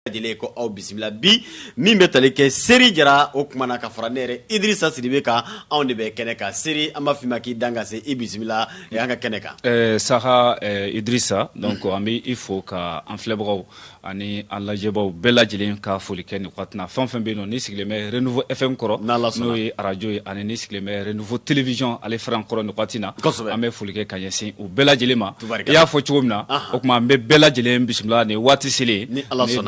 lajɛlen ko aw bisimila bi min bɛ tali kɛ seri jara o kuma na ka fara ne yɛrɛ idirisa sidibe kan anw de bɛ kɛnɛ kan seri an b'a f'i ma k'i dan ka se i bisimila an ka kɛnɛ kan eh, saha eh, idirisa donc an bɛ i fo ka an filɛbagaw ani an lajɛbaw bɛɛ lajɛlen ka foli kɛ nin waati na fɛn fɛn bɛ yen nɔ ni sigilen bɛ renouveau fm kɔrɔ n'o ye arajo ye ani ni sigilen bɛ renouveau télévision ale fɛrɛn kɔrɔ nin waati na an bɛ foli kɛ ka ɲɛsin u bɛɛ lajɛlen ma i y'a fɔ cogo min na o kuma an bɛ bɛɛ lajɛlen bisimila nin waati selen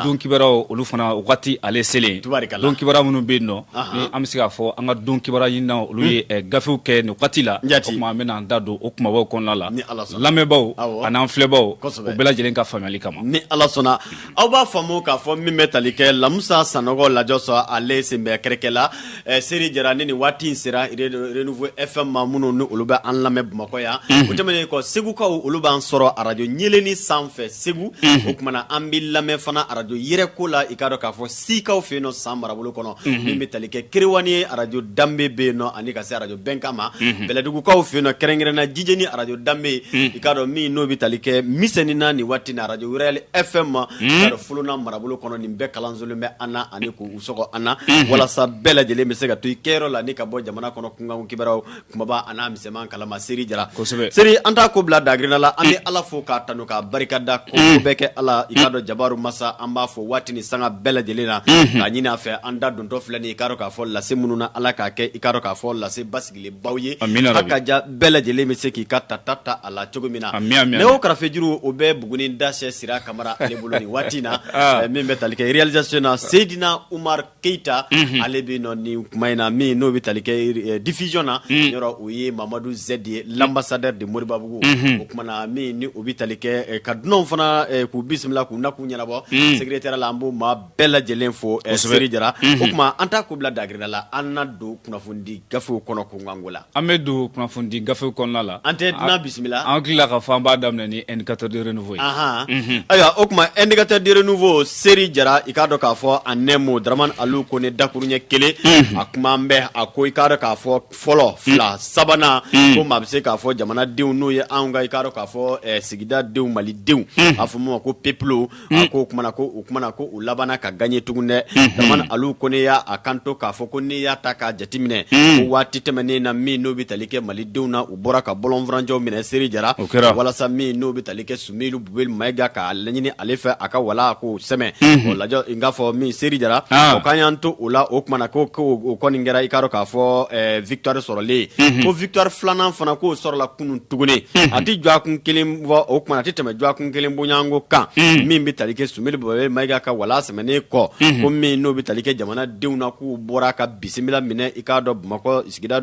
don kibaruw olu fana waati ale selen don kibaru minnu bɛ yen nɔ ni an bɛ se k'a fɔ an ka don kibaru ɲinina olu ye gafew kɛ nin waati la an bɛna an da don o kumabaw kɔnɔna la lamɛnbaw ani an filɛbaw o bɛɛ lajɛlen ka faamuyali kama ni ala sɔnna aw b'a faamu k'a fɔ min bɛ tali kɛ lamusa sanɔgɔ lajɔ sɔrɔ ale sen bɛ kɛrɛkɛ la eh, seri jara ni nin waati in sera renouveau fm ma minnu ni olu bɛ an lamɛn bamakɔ yan mhm. o tɛmɛnen kɔ segukaw olu b'an sɔrɔ arajo ɲeleni sanfɛ segu mhm. o kuma na an bɛ lamɛn fana arajo yɛrɛko la i k'a dɔn k'a fɔ sikaw fɛ yen nɔ san marabolo kɔnɔ min bɛ tali kɛ kerewani arajo danbe bɛ yen nɔ ani ka se arajo bɛnkan ma bɛlɛdugukaw fɛ yen nɔ kɛrɛnkɛrɛnna jijeni arajo danbe i k'a dɔn min n'o bɛ tali kɛ misɛni na nin waati na arajo royal fm ma i k'a dɔn folona marabolo kɔnɔ nin bɛɛ kalansolen bɛ an na ani k'u sɔgɔ an na walasa bɛɛ lajɛlen bɛ se ka to i kɛyɔrɔ la ni ka bɔ jamana kɔnɔ kunkanko kibaruw Kumaba an'a misɛnman kalama seri jara kosɛbɛ seri an t'a ko bila dagirinna la an bɛ ala fo k'a tanu k'a barika da ko bɛɛ kɛ ala i k'a dɔn jabaru masa an b'a fɔ waati ni sanga bɛɛ lajɛlen na k'a ɲini a fɛ an da dontɔ filɛ nin i k'a dɔn k'a fɔ lase minnu na ala k'a kɛ i k'a dɔn k'a fɔ lase basigilenbaw ye a ka ja bɛɛ lajɛlen bɛ se k'i ka ta ta ta a la cogo min na o karafejuru o bɛ buguni dasɛ sira kamara ale bolo nin waati na min bɛ tali kɛ réalisation na seyidina umar keyita mhm. ale bɛ nɔ nin kuma in na min n'o bɛ tali kɛ eh, diffusion na mhm. yɔrɔ o ye mamadu zɛdi ye mhm. l'ambassadeur de moribabugu o kuma na min ni o bɛ tali kɛ eh, ka dunanw fana eh, k'u bisimila k'u na k'u ɲɛnabɔ secrétaire la an b'o maa bɛɛ lajɛlen fo seri jara o kuma an t'a ko bila dagirinna la an na don kunnafonidi Gafew kɔnɔ kunkanko la. An bɛ don kunnafonidi gafew kɔnɔna la. An tɛ dunan bisimila. An hakili la k'a fɔ an b'a daminɛ ni indicateur du renouveau ye. Ahan. Unhun. Ayiwa o kuma indicateur du renouveau Seri Jara i k'a dɔn k'a fɔ en un mot Daramani Alu Kone dakuruɲɛ kelen. Unhun. A kuma an bɛ a ko i k'a dɔn k'a fɔ fɔlɔ fila sabanan. Un. Ko maa bɛ se k'a fɔ jamanadenw n'o ye anw ka i k'a dɔn k'a fɔ ɛɛ sigida denw Malidenw. Unhun. A bɛ fɔ min ma ko peuple a ko o kuma na ko o kuma na ko u labanna ka gagner tugun dɛ Dramane Alou Kone y'a kanto k'a fɔ ko n'i y'a ta k'a jateminɛ ko waati tɛmɛnen na min n'o bɛ tali kɛ Malidenw na u bɔra ka bɔlɔnfurancɛw minɛ Seri Jara walasa min n'o bɛ tali kɛ Sumeyilu Bubeli Mayiga k'a laɲini ale fɛ a ka wala k'o sɛmɛ o lajɛ i k'a fɔ min Seri Jara o k'an y'an to o la o kuma na ko o kɔni kɛra i k'a dɔn k'a fɔ ɛɛ victoire sɔrɔlen ye ko victoire filanan fana k'o sɔrɔla kunun tuguni a tɛ dɔgɔkun kelen bɔ o kuma a tɛ tɛmɛ dɔgɔkun kelen bɔɲɔgɔnko kan min bɛ tali kɛ sumeyilu bubɛyi mayiga ka wala sɛmɛnen kɔ ko min n'o bɛ tali kɛ jamanadenw na k'u bɔra ka bisimila minɛ i k'a dɔn bamakɔ sigida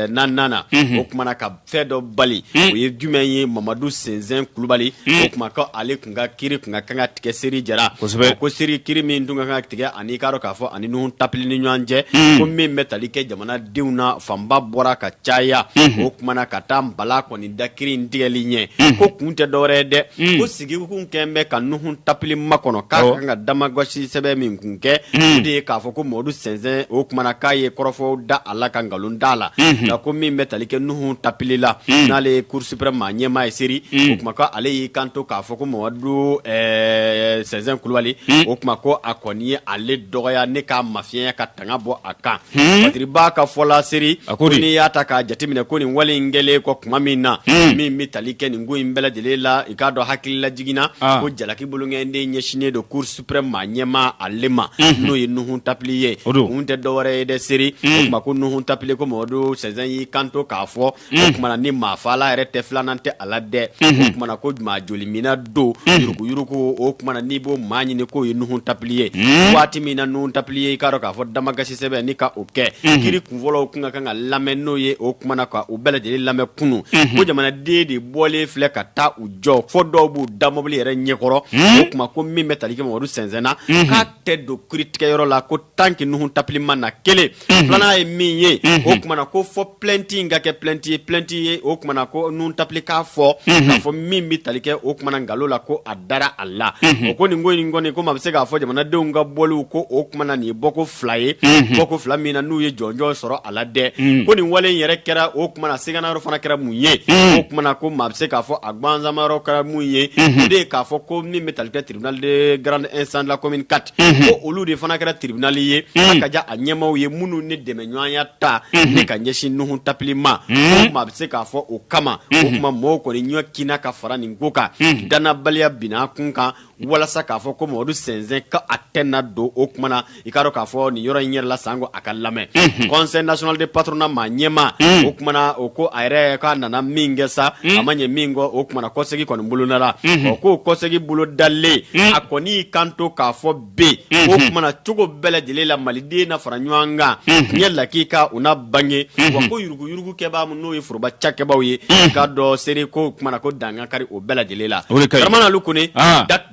naaninan na o kuma na ka fɛn dɔ bali o ye jumɛn ye mamadu sɛnzɛn kulubali o kuma ale N ka kiiri tun ka kan ka tigɛ seri jara ko seri kiiri min tun ka kan ka tigɛ ani i k'a dɔn k'a fɔ a ni nuhun tapili ni ɲɔgɔn cɛ ko min bɛ tali kɛ jamanadenw na fanba bɔra ka caya o kuma na ka taa balan kɔni da kiiri in tigɛli ɲɛ ko kun tɛ dɔwɛrɛ dɛ ko sigikun kɛ bɛ ka nuhun tapili makɔnɔ k'a kan ka damakasi sɛbɛn min kun kɛ o de ye k'a fɔ ko mamadu sɛnzɛn o kuma na k'a ye kɔrɔfɔw da a la ka nkalon da a la nka ko min bɛ tali kɛ nuhun tapili la n'ale ye Cour Supreme maa ɲɛmaa ye seri o kuma ko ale y'i kanto k'a fɔ ko Mamadu ɛɛ Sɛnzɛn Kulubali o kuma ko a kɔni ye ale dɔgɔya ni k'a mafiɲɛya ka tanga bɔ a kan Badiriba ka fɔ la seri ko n'i y'a ta k'a jateminɛ ko nin wale in kɛlen kɔ tuma min na min bɛ tali kɛ nin ko in bɛɛ lajɛlen la i k'a dɔn hakili lajigin na ko jalaki bolonkɔniden ɲɛsinnen don Cour Supreme maa ɲɛmaa ale ma n'o ye Nuhun Tapili ye o kun tɛ dɔwɛrɛ ye dɛ seri o kuma ko Nuhun Tapili ko Mamadu Sɛnzɛn y'i kanto k'a fɔ o kuma na ni maafala yɛrɛ tɛ filanan tɛ a la dɛ o kuma na ko maa joliminna don yuruguyurugu o kuma na n'i b'o maa ɲini k'o ye nuhun tapili ye waati min na nuhun tapili ye i k'a dɔn k'a fɔ damakasi sɛbɛn ni ka o kɛ kiiri kunfɔlɔ tun ka kan ka lamɛn n'o ye o kuma na ka u bɛɛ lajɛlen lamɛn kunun ko jamanaden de bɔlen filɛ ka taa u jɔ fɔ dɔw b'u da mobili yɛrɛ ɲɛkɔrɔ o kuma ko min bɛ tali kɛ mamadu sɛnzɛn na k'a tɛ don kiiritigɛyɔrɔ la ko tant que nuhun tapili ma na kelen filanan ye min ye o kuma na ko fɔ plainte in ka kɛ plainte ye plainte ye o kuma na ko nuhun tapili k'a fɔ k'a fɔ min bɛ tali kɛ o kuma na nkalon la ko a dara a la o ko nin ko in kɔni ko maa bɛ se k'a fɔ jamanadenw ka bɔliw ko o kuma na nin ye bɔko fila ye bɔko fila min na n'u ye jɔnjɔn sɔrɔ a la dɛ ko nin wale in yɛrɛ kɛra o kuma na siganayɔrɔ fana kɛra mun ye o kuma na ko maa bɛ se k'a fɔ a gwanzamayɔrɔ kɛra mun ye o de ye k'a fɔ ko min bɛ tali kɛ Tribunal de grande instance de la commune quatre ko olu de fana kɛra tribunal ye ka diya a ɲɛmaw ye minnu ni dɛmɛɲɔgɔnya ta ni ka ɲɛsin nuhun tapili ma ko maa bɛ se k'a fɔ o kama o kuma mɔgɔw kɔni ɲɔ kina ka fara nin ko kan dannabaliya bin a kun kan walasa k'a fɔ ko mamadu sɛnzɛn ka a tɛ na don o kuma na i k'a dɔn k'a fɔ nin yɔrɔ in yɛrɛ la sanko a ka lamɛn conseil national de patronat maa ɲɛmaa o kuma na o ko a yɛrɛ k'a nana min kɛ sa a ma ɲɛ min kɔ o kuma na kɔsegin kɔni bolona la ɔ ko kɔsegin bolo dalen a kɔni y'i kanto k'a fɔ bɛ yen o kuma na cogo bɛɛ lajɛlen la maliden na fara ɲɔgɔn kan ɲɛ lakika u na bange wa ko yuruguyurugukɛbaa minnu n'o ye foroba cakɛbaw ye i k'a dɔn seri ko kuma na ko dangankari o bɛɛ lajɛlen la dramane alu kone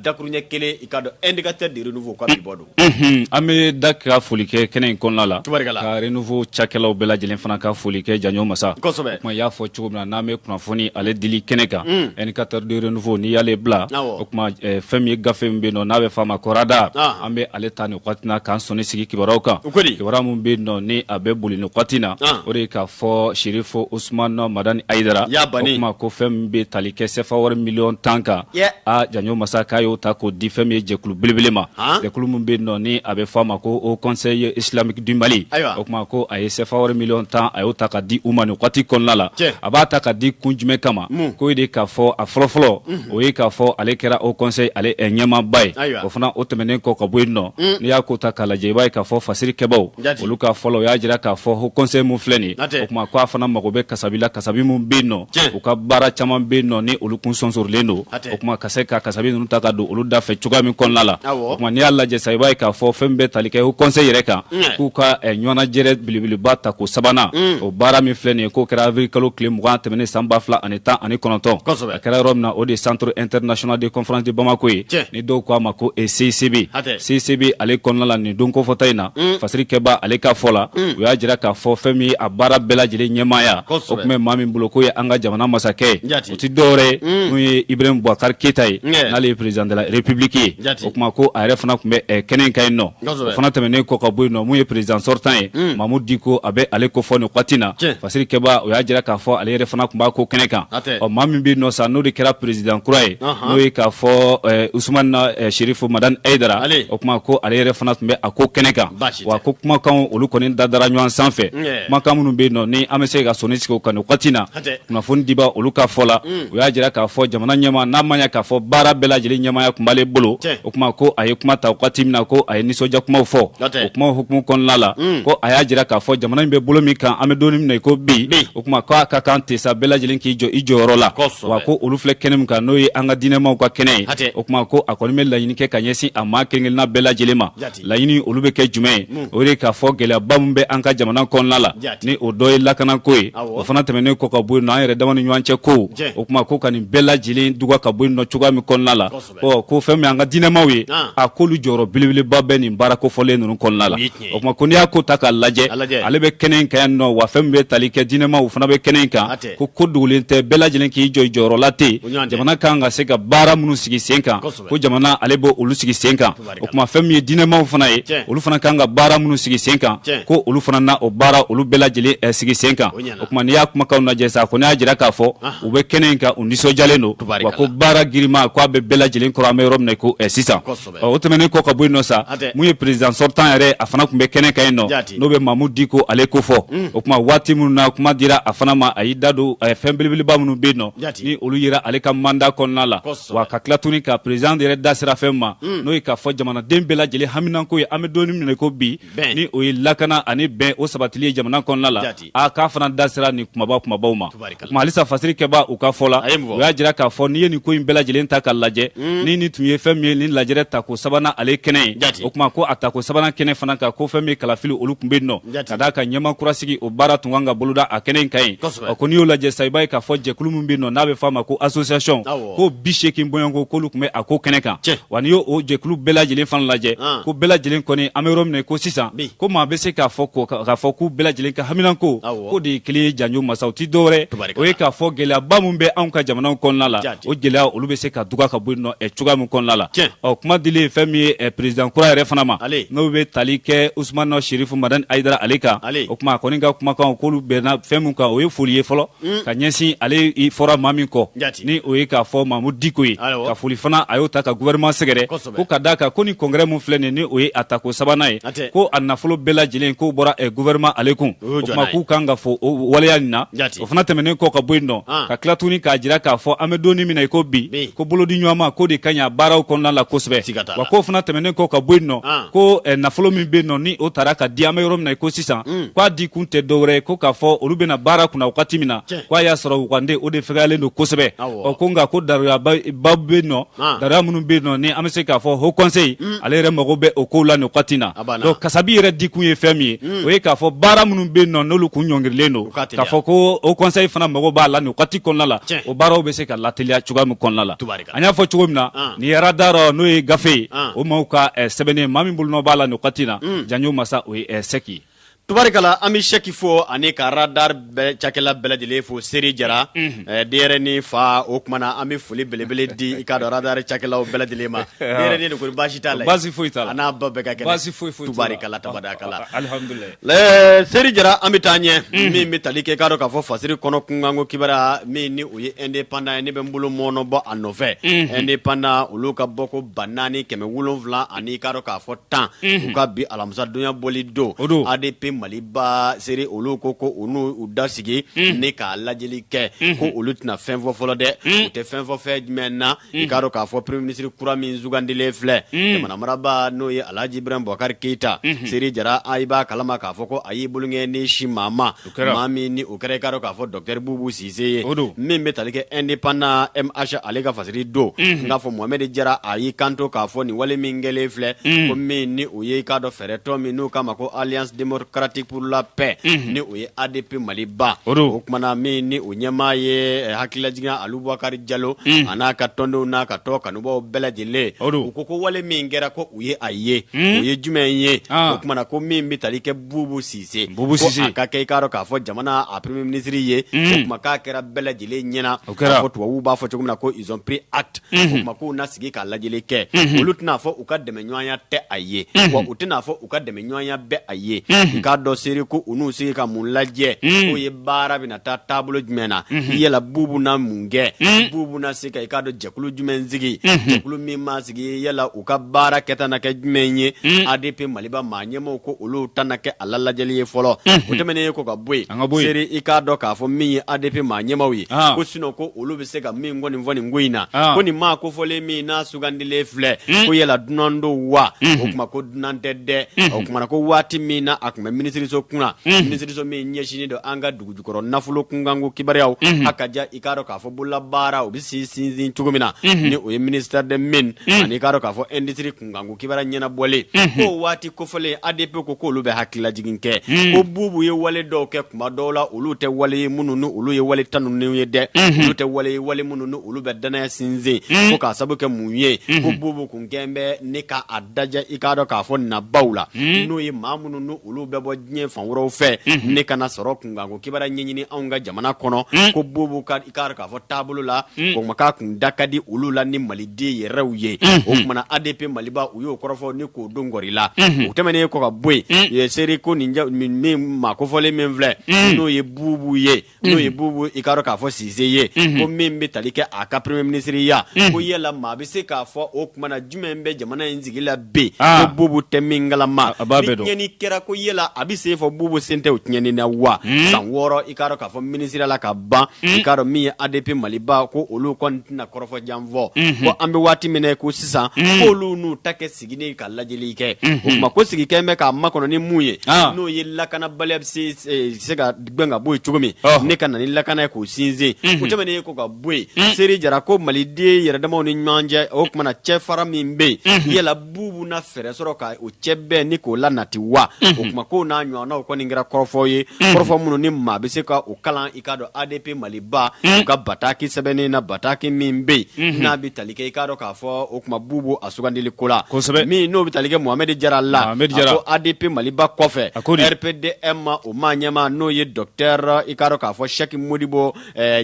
dakuruɲɛ kelen i k'a dɔn indicateur de renouveau ka bi bɔ don Unhun an be Da ka foli kɛ kɛnɛ in kɔnɔna la tubarikala ka renouveau cakɛlaw bɛɛ lajɛlen fana ka foli kɛ Janjo masa kosɛbɛ o tuma i y'a fɔ cogo min na n'an be kunnafoni ale dili kɛnɛ kan unn indicateur de renouveau n'i y'ale bila awɔ o tuma ɛ fɛn min ye gafe min be yennɔ n'a bɛ f'a ma ko radar ɔnhɔn an be ale ta nin waati na k'an sɔnni sigi kibaruyaw kan u ko di kibaruya min be yennɔ ni a be boli nin waati na ɔnhɔn o de ye k'a fɔ Serifo Usumana Madani Ayidara ya Bani o tuma ko fɛn min be tali kɛ CFA wari million 10 kan yɛ aa Janjo masa k'a y'o ta k'o di fɛn min ye jɛkulu belebele ma jɛkulu min bɛ yen nɔ ni a bɛ fɔ a ma ko Haut conseil islamique du Mali o tuma ko a ye CFA wari miliyɔn tan a y'o ta ka di u ma nin waati kɔnɔna la a b'a ta ka di kun jumɛn kama k'o ye de k'a fɔ a fɔlɔfɔlɔ o ye k'a fɔ ale kɛra Haut conseil ale ɲɛmaaba ye o fana o tɛmɛnen kɔ ka bɔ yen nɔ n'i y'a ko ta k'a lajɛ i b'a ye k'a fɔ fasiri kɛbaaw olu ka fɔ la u y'a jira k'a fɔ Haut conseil min filɛ nin o tuma k'a fana mago bɛ kasabi la kasabi min bɛ yen nɔ u ka baara caman bɛ yen nɔ ni olu tun sonsorilen don o tuma ka se ka kasabi ninnu ta ka don olu da fɛ cogoya min kɔnɔna la o tuma n'i y'a lajɛ sa i b'a ye k'a fɔ fɛn min bɛ tali kɛ Haut conseil yɛrɛ kan k'u ka ɲɔgɔnnajɛrɛ belebeleba tako sabanan o baara min filɛ nin ye k'o kɛra avril kalo tile mugan tɛmɛnen san ba fila ani tan ani kɔnɔntɔn A kɛra yɔrɔ min na o de ye centre international de conférence de Bamako ye, tiɲɛ, ni dɔw k'a ma ko CICB, hatɛ, CICB ale kɔnɔna la nin don kofɔta in na, un, fasiri kɛbaa ale ka fɔ la, un, u y'a jira k'a fɔ fɛn min ye a baara bɛɛ lajɛlen ɲɛmaaya, kosɛbɛ, o tun bɛ maa min bolo k'o ye an ka jamana masakɛ ye, jaati, o tɛ dɔwɛrɛ ye, un, n'o ye Ibrahim Boubacar Keyita ye, ɲɛ, n'ale ye président de la République ye, jaati, o tuma ko a yɛrɛ fana tun bɛ ɛ kɛnɛ in kan yen nɔ. o fana tɛmɛnen kɔ ka bɔ yen nɔ min ye président sortant ye hmm. Mamudu Diko a bɛ ale ko fɔ nin wagati na fasiri kɛbaaw u y'a jira k'a fɔ ale yɛrɛ fana tun b'a ko kɛnɛ kan ɔ maa min bɛ yen nɔ sa n'o de kɛra président kura ye n'o ye k'a fɔ eh, Usumana eh, Sherifu Madani Ayidara o kuma ko ale yɛrɛ fana tun bɛ a ko kɛnɛ kan wa ko kumakanw olu kɔni dadara ɲɔgɔn sanfɛ kumakan minnu bɛ yen nɔ ni an bɛ se ka sɔnni sigi o kan nin wagati na kunnafoni dibaa olu ka fɔ la mm. u y'a jira k'a fɔ jamana ɲɛmaa n'a ma ɲa k'a fɔ baara bɛɛ lajɛlen ɲɛmaaya tun b'ale bolo o kuma ko a ye kuma ta wagati min na ko a ye nisɔndiya kumaw fɔ o kumaw hukumu kɔnɔna la mm. ko a y'a jira k'a fɔ jamana in bɛ bolo min kan an bɛ don min na i ko bi o kuma k'a ka kan ten sa bɛɛ lajɛlen k'i jɔ i jɔyɔrɔ la wa ko olu filɛ kɛnɛ min kan n'o ye an ka diinɛmaw ka kɛnɛ ye o kuma ko a kɔni bɛ laɲini kɛ ka ɲɛsin a maa kelen-kelenna bɛɛ lajɛlen ma laɲini olu bɛ kɛ jumɛn ye o ye de k'a fɔ gɛlɛyaba min bɛ an ka jamana kɔnɔna la ni o dɔ ye lakanako ye o fana tɛmɛnen kɔ ka bɔ yen nɔ an yɛrɛ dama ni ɲɔgɔn cɛ ko o tuma ko ka nin bɛɛ lajɛlen duga ka bɔ yen nɔ cogoya min kɔnɔna la ɔ ko fɛn min ye an ka diinɛmaw ye a k'olu jɔyɔrɔ belebeleba bɛ nin baara kofɔlen ninnu kɔnɔna la o tuma ko n'i y'a ko ta k'a lajɛ ale bɛ kɛnɛ in kan yan nɔ wa fɛn min bɛ tali kɛ diinɛmaw o fana bɛ kɛnɛ in kan ko ko dogolen tɛ bɛɛ lajɛlen k'i jɔ i jɔyɔrɔ la ten jamana kan ka se ka baara minnu sigi sen kan ko jamana ale bɛ olu sigi sen kan o tuma fɛn min ye diinɛmaw fana ye olu fana kan ka baara minnu sigi sen kan ko olu fana na o baara olu bɛɛ lajɛlen eh, sigi sen kan o tuma n'i y'a kumakanw lajɛ sa ko ne y'a jira k'a fɔ u bɛ kɛnɛ in kan u nisɔndiyalen don wa ko baara girima ko a bɛ bɛɛ lajɛlen kɔrɔ an bɛ yɔrɔ min na ko eh, sisan o tɛmɛnen kɔ ka bɔ yen nɔ sa min ye président sortant yɛrɛ a fana tun bɛ kɛnɛ kan yen nɔ n'o bɛ mamudu diko ale kofɔ hmm. o tuma waati minnu na kuma dira a fana ma a y'i da don eh, fɛn belebeleba minnu bɛ yen nɔ ni olu yera ale ka mandat kɔnɔna la wa ka tila tuguni ka président yɛrɛ da sera fɛn ma n'o ye k'a fɔ jamanaden bɛɛ lajɛlen haminanko ye an bɛ donni min na ko bi ni o ye lakana ani bɛn o sabatili ye jamana kɔnɔna la a k'a fana da sera nin kumaba kumabaw ma o kuma halisa fasirikɛbaw ka fɔ la u y'a jira k'a fɔ n'i ye nin ko in bɛɛ lajɛlen ta k'a lajɛ ni nin tun ye fɛn min ye nin lajɛrɛ tako sabanan ale kɛnɛ ye o tuma ko a tako sabanan kɛnɛ fana kan ko fɛn min ye kalafili olu tun bɛ yen nɔ ka d'a kan ɲɛmaa kura sigi o baara tun kan ka boloda a kɛnɛ in kan yen ɔ ko n'i y'o lajɛ sa i b'a ye k'a fɔ jɛkulu min bɛ yen nɔ n'a bɛ fɔ a ma ko association ko bi seegin bɔɲɔgɔnko k'olu tun bɛ a ko kɛnɛ kan wa n'i y'o jɛkulu bɛɛ lajɛlen fana lajɛ ko bɛɛ lajɛlen kɔni an bɛ yɔrɔ min na ko sisan ko maa bɛ se k'a fɔ k'a fɔ k'u bɛɛ lajɛlen ka haminanko k'o de ye kelen ye janjo masa o tɛ dɔwɛrɛ o ye k'a fɔ gɛlɛyaba min bɛ anw ka jamanaw kɔnɔna la o gɛlɛya olu bɛ se ka duga ka bɔ yen nɔ cogoya min kɔnɔna la ɔ kuma dilen fɛn min ye président kura yɛrɛ fana ma n'o bɛ tali kɛ usumana serifu madani ayidara ale kan ale o tuma kɔni ka kumakan k'olu bɛnna fɛn min kan o ye foli ye fɔlɔ mm. ka ɲɛsin ale fɔra maa min kɔ ni o ye k'a fɔ mamudu diko ye ka foli fana a y'o ta ka gouvernement sɛgɛrɛ ko ka d'a kan ko ni congrès min filɛ nin ni o ye a tako sabanan ye ko a nafolo bɛɛ lajɛlen k'o bɔra eh, gouvernement ale kun o tuma k'u kan ka fo o waleya nin na o fana tɛmɛnen kɔ ka bɔ yen nɔ ka tila tuguni k'a jira k'a fɔ an bɛ donni min na i ko bi ko bolodiɲɔgɔnma k'o de ka ɲi a baaraw kɔnɔna la kosɛbɛ wa k'o fana tɛmɛnen kɔ ka bɔ yen nɔ ko eh, nafolo min bɛ yen nɔ ni o taara ka di an bɛ yɔrɔ min na i ko sisan mm. k'a di kun tɛ dɔwɛrɛ ye ko k'a fɔ olu bɛna baara kunna wagati min na ko a y'a sɔrɔ wugande o de fɛgɛyalen don kosɛbɛ ɔ ko nka ko daruyaba bɛ yen nɔ daruya minnu bɛ yen nɔ ni an bɛ se k'a fɔ haut conseil mm. ale yɛrɛ mago bɛ o kow la nin wagati in na kasabi yɛrɛ dikun ye fɛn min ye hmm. o ye k'a fɔ baara minnu bɛ yen nɔ n'olu kun ɲɔngirilen don k'a fɔ ko haut conseil fana mago b'a la nin wagati kɔnɔna la o baaraw bɛ se ka lateliya cogoya min kɔnɔna la an y'a fɔ cogo min na ah. nin ye radar n'o ye gafe ye ah. o maaw ka eh, sɛbɛnnen maa min bolonɔ b'a la nin wagati na hmm. janjo masa o ye eh, sɛki Tubarikala an bɛ Sɛki fo ani ka radar bɛɛ cakɛla bɛɛ lajɛlen fo Seri Jara. Unhun. Ɛɛ denyɛrɛni fa o tuma na an bɛ foli belebele di i k'a dɔn radar cakɛlaw bɛɛ lajɛlen ma. Ɔhɔ. Denyɛrɛni de kɔni baasi t'a la yen. Baasi foyi t'a la. A n'a ba bɛɛ ka kɛnɛ. Baasi foyi foyi t'u la. Tubarikala tabarikala. Ɔhɔ, alihamudulahi. Ɛɛ Seri Jara an bɛ taa ɲɛ. Unhun. Min bɛ tali kɛ i k'a dɔn k'a fɔ fasiri kɔnɔ kunkanko kibaruya min ni o ye indépendant ye ne bɛ n bolo mɔɔnɔbɔ a nɔfɛ. Unhun. Indépendant olu ka bɔko 4700 ani i k'a dɔn k'a fɔ tan u ka bi alamisadonya bɔli don adp maliba seri olu ko ko u n'u da sigi ni k'a lajɛli kɛ ko olu tɛna fɛn fɔ fɔlɔ dɛ u tɛ fɛn fɔ fɛn jumɛn na i k'a dɔn k'a fɔ premier ministre kura min sugandilen filɛ jamana maraba n'o ye alhaji ibrahim bubakari keyita seri jara i b'a kalama k'a fɔ ko a y'i bolonkɔni sin maa ma maa min ni o kɛra i k'a dɔn k'a fɔ docteur bubu sise ye min bɛ tali kɛ indépendant mh ale ka fasiri don n'a fɔ mohamed jara a y'i kanto k'a fɔ nin wale min kɛlen filɛ ko min ni o ye i k'a dɔn fɛɛrɛtɔn min n'o k'a ma ko alliance démocratique pour la paix ni o ye adp maliba o kuma na min ni o ɲɛmaa ye hakililajigin alu bubakari jalo a n'a ka tɔndenw n'a ka tɔn kanubaw bɛɛ lajɛlen u ko wale min kɛra ko u ye a ye o ye jumɛn ye o kuma na ko min bɛ tali kɛ bubu sise ko a ka kɛ i k'a dɔn k'a fɔ jamana a premier ministre ye o kuma k'a kɛra bɛɛ lajɛlen ɲɛna o kɛra ko tubabu b'a fɔ cogo min na ko ils ont pris acte o kuma k'u na sigi k'a lajɛli kɛ olu tɛn'a fɔ u ka dɛmɛ ɲɔgɔnya tɛ a ye wa u tɛn'a fɔ u ka dɛmɛ ɲɔgɔnya bɛ a ye i k'a dɔn seri ko u n'u sigi ka mun lajɛ k'o ye baara bɛna taa taabolo jumɛn na yala bubu na mun kɛ bubu na se ka i k'a dɔn jɛkulu jumɛn sigi jɛkulu min sigi yala u ka baara kɛta na kɛ jumɛn ye mm. adp maliba maa ɲɛmaaw ko olu ta na kɛ a la lajɛli ye fɔlɔ mm-hmm. o tɛmɛnen ye kɔ ka bɔ yen seri i k'a dɔn k'a fɔ min ye adp maa ɲɛmaaw ye ah. ko sinon ko olu bɛ se ka min kɔni fɔ nin ko in na ah. ko nin maa kofɔlen min n'a sugandilen filɛ mm. ko yala dunan don wa o mm-hmm. kuma ko dunan tɛ dɛ mm-hmm. o kuma na ko waati min na a tun bɛ minisiriso kunna minisiriso min ɲɛsinnen don an ka dugujukɔrɔ nafolo kunkanko kibaruya a ka i k'a dɔn k'a fɔ bololabaara u bɛ sinsin cogo min na ni o ye ministère des mines ani i k'a dɔn k'a fɔ industrie kunkanko kibaruya ɲɛnabɔlen k'o waati kofɔlen adp ko k'olu bɛ hakililajigin kɛ ko bubu ye wale dɔw kɛ kuma dɔw la olu tɛ wale minnu ni olu ye wale tanuninw ye dɛ olu tɛ wale wale minnu ni olu bɛ danaya sinsin ko k'a sababu kɛ mun ye ko bubu kun gɛn bɛ ne k'a da i k'a dɔn k'a fɔ nabaw la n'o ye maa minnu ni olu bɛ bɔ diɲɛ fan wɛrɛw fɛ ni ka na sɔrɔ kunkan kibaruya ɲɛɲini anw ka jamana kɔnɔ ko bubu ka i k'a dɔn k'a fɔ taabolo la o kuma k'a kun da ka di olu la ni maliden yɛrɛw ye o kuma na adp maliba u y'o kɔrɔfɔ ni k'o don kɔɔri la o tɛmɛnen ye kɔ ka bɔ yen seri ko nin min maa kofɔlen min filɛ n'o ye bubu ye n'o ye bubu i k'a dɔn k'a fɔ sise ye ko min bɛ tali kɛ a ka premier ministre ya ko yala maa bɛ se k'a fɔ o kuma na jumɛn bɛ jamana in sigi la bi ko bubu tɛ min kalama ni tiɲɛni kɛra ko yala a bɛ se fɔ bubu sen tɛ o tiɲɛni na wa san wɔɔrɔ i k'a dɔn k'a fɔ minisiriya la ka ban i k'a dɔn min ye adp maliba ko olu kɔni tɛna kɔrɔfɔ jan fɔ ko an bɛ waati min ko sisan ko olu n'u ta kɛ sigini ka lajɛli kɛ o kuma ko sigikɛ bɛ k'a makɔnɔ ni mun ye n'o ye lakanabaliya bɛ se ka gɛn ka bɔ yen cogo min Ɔhɔ. ne ka na ni lakana ye k'o sinsin o tɛmɛnen kɔ ka bɔ yen seri jara ko maliden yɛrɛdamaw ni ɲɔgɔn cɛ o tuma na cɛfara min bɛ yen yala bubu na fɛɛrɛ sɔrɔ ka o cɛ bɛɛ ni k'o lanati wa o tuma k'o n'a ɲɔgɔnnaw kɔni kɛra kɔrɔfɔw ye kɔrɔfɔ minnu ni maa bɛ se ka o kalan i k'a dɔn adp maliba u ka bataki sɛbɛnnen na bataki min bɛ yen n'a bɛ tali kɛ i k'a dɔn k'a fɔ o tuma bubu a sugandili ko la Kosɛbɛ. min n'o bɛ tali kɛ mohamɛdi jara la Mohamed Jara. a ko adp maliba kɔfɛ A ko di? rpdm ma o maa ɲɛmaa n'o ye docteur i k'a dɔn k'a fɔ Cheikh Modibo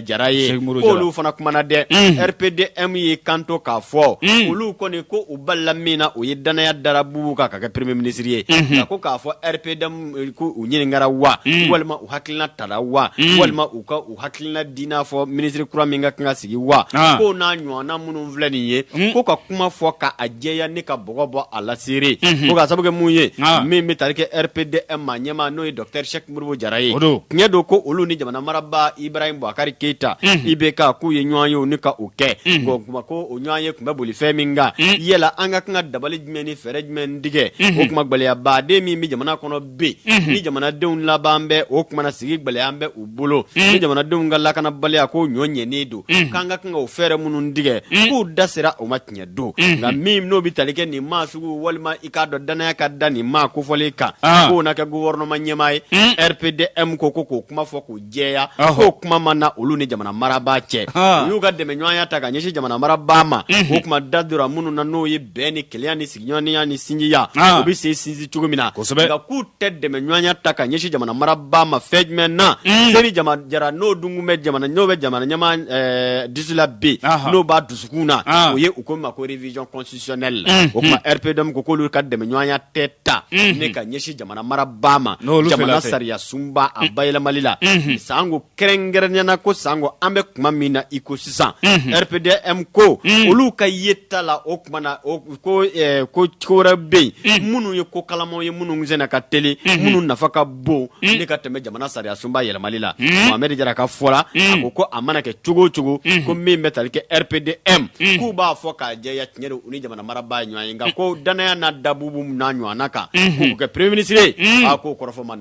Jara ye k'olu fana kumana dɛ rpdm y'i kanto k'a fɔ olu kɔni ko u balila min na o ye danaya dara bubu kan k'a kɛ premier ministre ye a ko k'a fɔ rpdm k'u ɲininkara wa walima u hakilina tara wa walima u U hakilina di n'a fɔ minisiri kura min ka kan ka sigi wa Aa. ko n'a ɲɔgɔnna minnu filɛ nin ye Mm. ko ka kuma fɔ ka a jɛya ne ka bɔgɔ bɔ a la seri Mhm. ko ka sababu kɛ mun ye Aa. min bɛ tali kɛ rpdm maa ɲɛmaa n'o ye docteur Cheikh Modibo Jara ye O don. tiɲɛ don ko olu ni jamana marabaa Ibrahim Boubacar Keita Mhm. IBK k'u ye ɲɔgɔn ye u ni ka o kɛ Mhm. ko kuma ko o ɲɔgɔn ye tun bɛ boli fɛn min kan Mm. yala an ka kan ka dabali jumɛn ni fɛɛrɛ jumɛn tigɛ Mhm. o kuma gɛlɛyabaden min bɛ jamana kɔnɔ bi ni jamanadenw laban bɛ o tuma na sigi gɛlɛya bɛ u bolo ni jamanadenw ka lakanabaliya ko ɲɔ ɲɛnen don k'an ka kan ka o fɛɛrɛ minnu tigɛ k'u da sera o ma tiɲɛ don nka min n'o bɛ tali kɛ nin maa sugu walima i k'a dɔn danaya ka da nin maa kofɔlen kan k'o na kɛ gouvernement ɲɛmaa ye rpdm ko k'o kuma fɔ k'o jɛya k'o kuma ma na olu ni jamana marabaa cɛ u y'u ka dɛmɛɲɔgɔnya ta ka ɲɛsin jamana marabaa ma o tuma da dora minnu na n'o ye bɛn ni kelenya ni ɲɔgɔnya ni sinjiya ah. o bɛ se sinsin cogo min na nka k'u tɛ dɛmɛɲɔgɔnya ta ka ɲɛsin jamana marabaa ma fɛn jumɛn na hmm. seri jara n'o dun bɛ jamana ɲɛmaa eh, dusu la bi n'o b'a dusukun na ah. o ye u ko ma ko révision constitutionnelle la hmm. o tuma hmm. RPDM ko k'olu ka dɛmɛɲɔgɔnya tɛ ta ne ka ɲɛsin jamana marabaa ma jamana sariya sunba a bayɛlɛmali la sanko kɛrɛnkɛrɛnya na ko sanko an bɛ kuma min na i ko sisan rpdm ko olu ka yeta la o tuma na ko wɛrɛ bɛ yen minnu ye ko kalamaw ye minnu senna ka teli minnu nafa ka bon ne ka tɛmɛ jamana sariya sunba yɛlɛmali la mohamɛdi jara ka fɔ la ko ko a mana kɛ cogo o cogo ko min bɛ taali kɛ rpdm k'u b'a fɔ k'a jɛya tiɲɛ don u ni jamana marabaa ye ɲɔgɔn ye nka ko danaya na da bubu n'a ɲɔgɔnna kan k'a kɛ premier ministre ye a k'o kɔrɔfɔ ma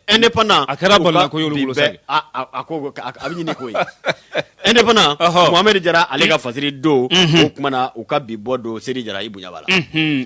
Indépendant a kɛra bala ko y'olu bolo sa a ko a bɛ ɲini ko indépendant mohamɛdi jara ale ka fasiri don o tuma na u ka bi bɔ don seri jara i bonya b'a la